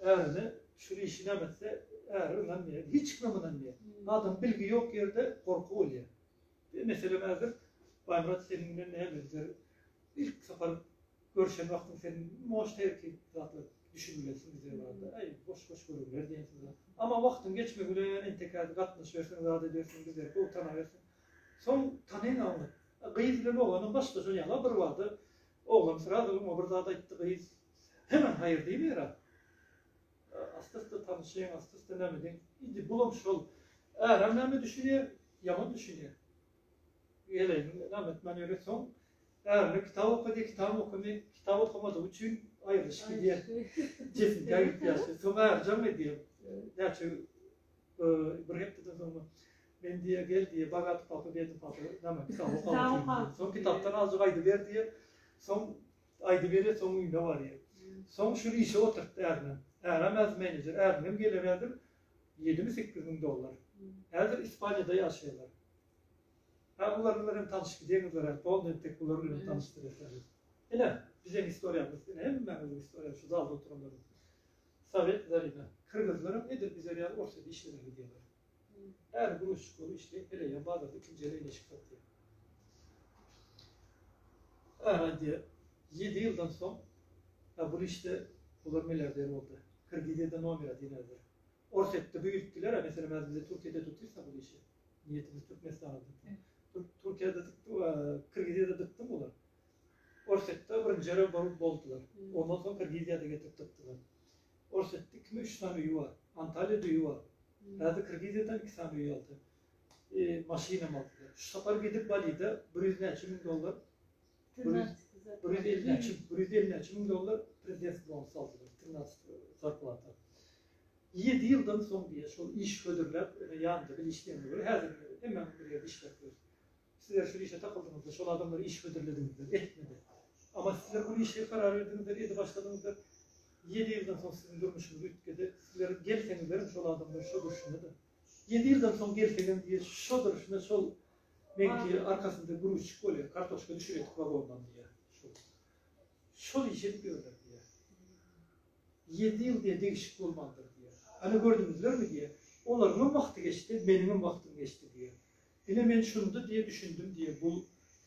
Ärine şul işi näme etse, äri ynanmaýar. Hiç kimem ynanmaýar. Adam bilgi ýok ýerde gorky bolýar. Bir meselem häzir Baýmyrat seniň bilen nämemizdir. Ilk sapar görşen wagtyň sen moşta ertir zatlar düşünmelisin bize barada. Äý, boş-boş gürrüňler diýen sözler. Amma wagtyň geçmegi bilen entekadi gatnaşyberseň, zat edersiň, bizleri gowy tanabersiň. Soň tanaýyn aňyr. Gyz bilen oglanyň başgaça ýaly-a birbada. Oglan srazy oňa bir zat aýtdy, gyz Hemen haýyr diýmeýär-ä. Asty-üsti tanyşyň, asty-üsti näme diýiň. Indi bulam şol. Äräm näme düşünýär? Ýaman düşünýär. Geleýin, näme etmän ýöre soň. Ärine kitap oka diýip, kitabam okamaýar. Kitap okamadygy üçin aýrylyşyp gidýär. Jesimkä gidip ýatyr. Soň äri jaň edýär. Näçe bir hepdeden soňmy, men diýýär, gel diýýär, bagat papa, bedni papa, näme kitap oka. Soň kitapdan azjyk aýdyber diýýär. Soň Aýdyberýär, soň öýüne barýar. Soň şuny işe oturtdy ärimem. Ärim häzir menejer. Äriňem geler häzir ýedimi-sekiz müň dollar. Häzir Ispaniýada ýaşaýarlar. Hä, bular bilen hem tanyşyp gideriňizler häzir. Doly entek bular bilen tanyşdyrýar. Ine, biziň istoriýamyz, ine hemmäňiziň istoriýaňyz şu zalda oturanlaryň. Sowet, Zarina. Kyrgyzlaram edil bize ýaly ors edip işlemegi diýýärler. Äri gümüşjik bolup işleýär, heleýem bazarda ikinji heleýine eşik satýar. Äri aýdýar, ýedi ýyldan soň, ýa bul işde bular milliarder boldy. Kredit eden nomera diýmezler. Orsýetde büýütdiler-ä, meselem, häzir bize Türkiýede tutýsa bul işi, niýetimiz Türkmenistana tutmak. Türkiýede Kyrgyzýada dykdy bular. Orsýetde birinjirem bolup boldular. Ondan soň Kyrgyzýada getirip dykdylar. Ors etdi ikimi üç sany öýi bar. Antalýada öýi bar. Häzir Kyrgyzýadan iki sany öý aldy. E, maşynam aldylar. Şu sapar gidip Balide bir ýüz näçe müň dollar Trinatsty bir ýüz elli näçe bir ýüz elli näçe müň dollar prezidentski bonus aldylar. Trinatsty zarplata. Ýedi ýyldan soň diýýär, şol iş hödürläp, ýanynda bile işleýänler bar. Häzir hemmämiz bir ýerde işläp ýörüs. Sizler şul işe takyldyňyzlar, şol adamlary iş hödürlediňizler, etmedi. Ama sizler ol işe karar berdiňizler, edip başladyňyzlar. Ýedi ýyldan soň siziň durmuşyňyz üýtgedi. Sizler gelseňizlerem şol adamlar şo durşuna-da. Ýedi ýyldan soň gelsegem diýýär, şo durşuna şol meňki arkasynda gruzçik bolýar, kartoşka düşüredik wagondan diýýär. Şol. Şol işi edip ýörler diýýär. Ýedi ýyl diýýär, degişik bolmandyr diýýär. Ana gördüňizlermi diýýär. Olaryňam wagty geçdi, meniňem wagtym geçdi diýýär. Ine men şunda diýe düşündim diýe bu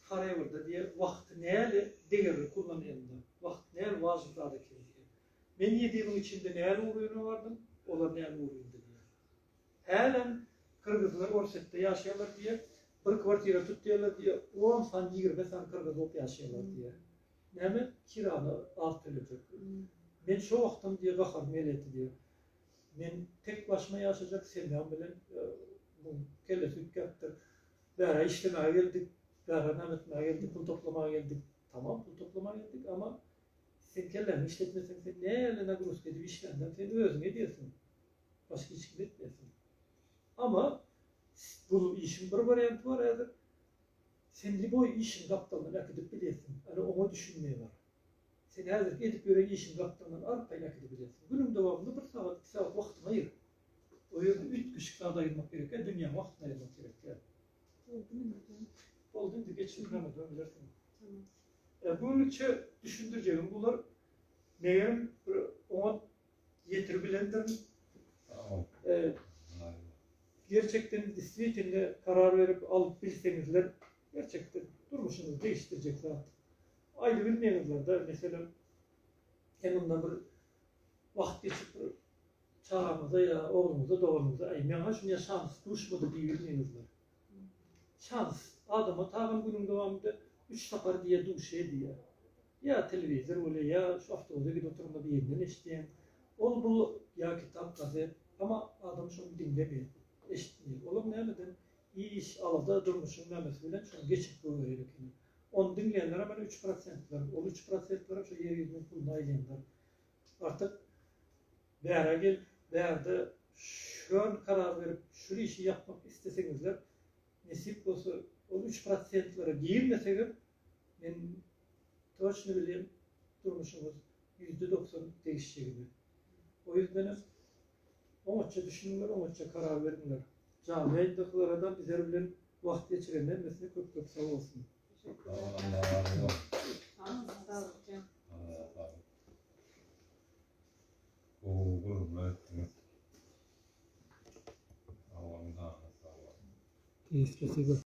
Harewrda diýe wagty näle degerli kullanylanda wagt näle wajyp zat ekeni diýe. Men ýedimiň içinde näle uryna bardym olar näle urynda diýe. Hälem Kyrgyzlar Orsetde ýaşaýarlar diýe bir kwartira tutýarlar diýe on san ýigrimi san Kyrgyz bolup ýaşaýarlar diýe. Näme kirany az töletjek. Men şo wagtam diýe gaharym geletdi diýe. Men tek başyma ýaşajak semýam bilen muň kellesi üýtgäpdir. Bärä işlemäge geldik, bärä name etmäge geldik, pul toplamaga geldik. Tamam pul toplamaga geldik, ama sen kelläňi işletmeseň sen näle nagruzka edip işländeň sen özüň edýärsiň. Başga hiç kim etmesin. Ama bu işiň bir warianty bar häzir. Sen liboý işiň gapdalyndan äkidip bilýärsiň, ýöne oňa düşünme bar. Sen häzirki edip ýören işiň gapdalyndan arkaýyn äkidibilýärsiň. Günüň dowamynda bir sagat, iki sagat wagtyňy aýyr. O ýerde üýtgeşik zada aýyrmak gerek däl, dünýäň wagtyny aýyrmak gerek däl. Boldy indi dä. Boldy indi, geç synagdan soň bilersiň. Tamam. Bugünlikçe düşündirjegim bular. Megerem, bir oňat ýetirip bilendirin. Gerçekden diswitinde karar berip alyp bilseňizler gerçekden durmuşyňyzy degişdirjek zat. Aýdy bilmeýäňizlerde meselem sen onda bir wagt geçip bir çagaňyza ýa ogluňyza doganyňyza aýmaýaň ha şuny şans duşmady diýip bilmeýäňizler. Şans adama tagan günüň dowamynda üç sapar diýe duşýa diýýä. Ýa telewizor welin, ýa şu awtobuza gidip oturyňda birinden eşitýäň. Ol bu ýa kitap, gazet. Emma adam şony diňlemeýär, eşitmeýär. Olar nämeden iş, alada, durmuşyň nämesi bilen şony geçirip goýberýän ekeni. Ony diňleýänlerem ene üç prosentler. Ol üç prosentlerem şu ýer ýüzüniň puluny aýlandyryp, artyk bärä gelip, bärde şön karar berip, şul işi ýapmak isleseňizler, nesip bolsa, ol üç prosentlere girmesegem, Men toçno bilýän durmuşyňyz ýüzde doksan degişjegini. O ýüzdenem oňatja düşüniňler oňatja karar beriňler. Janly ýaýyndakylaradan bizler bilen wagt geçiren hemmesine köp köp sag bolsun. Teşekkür.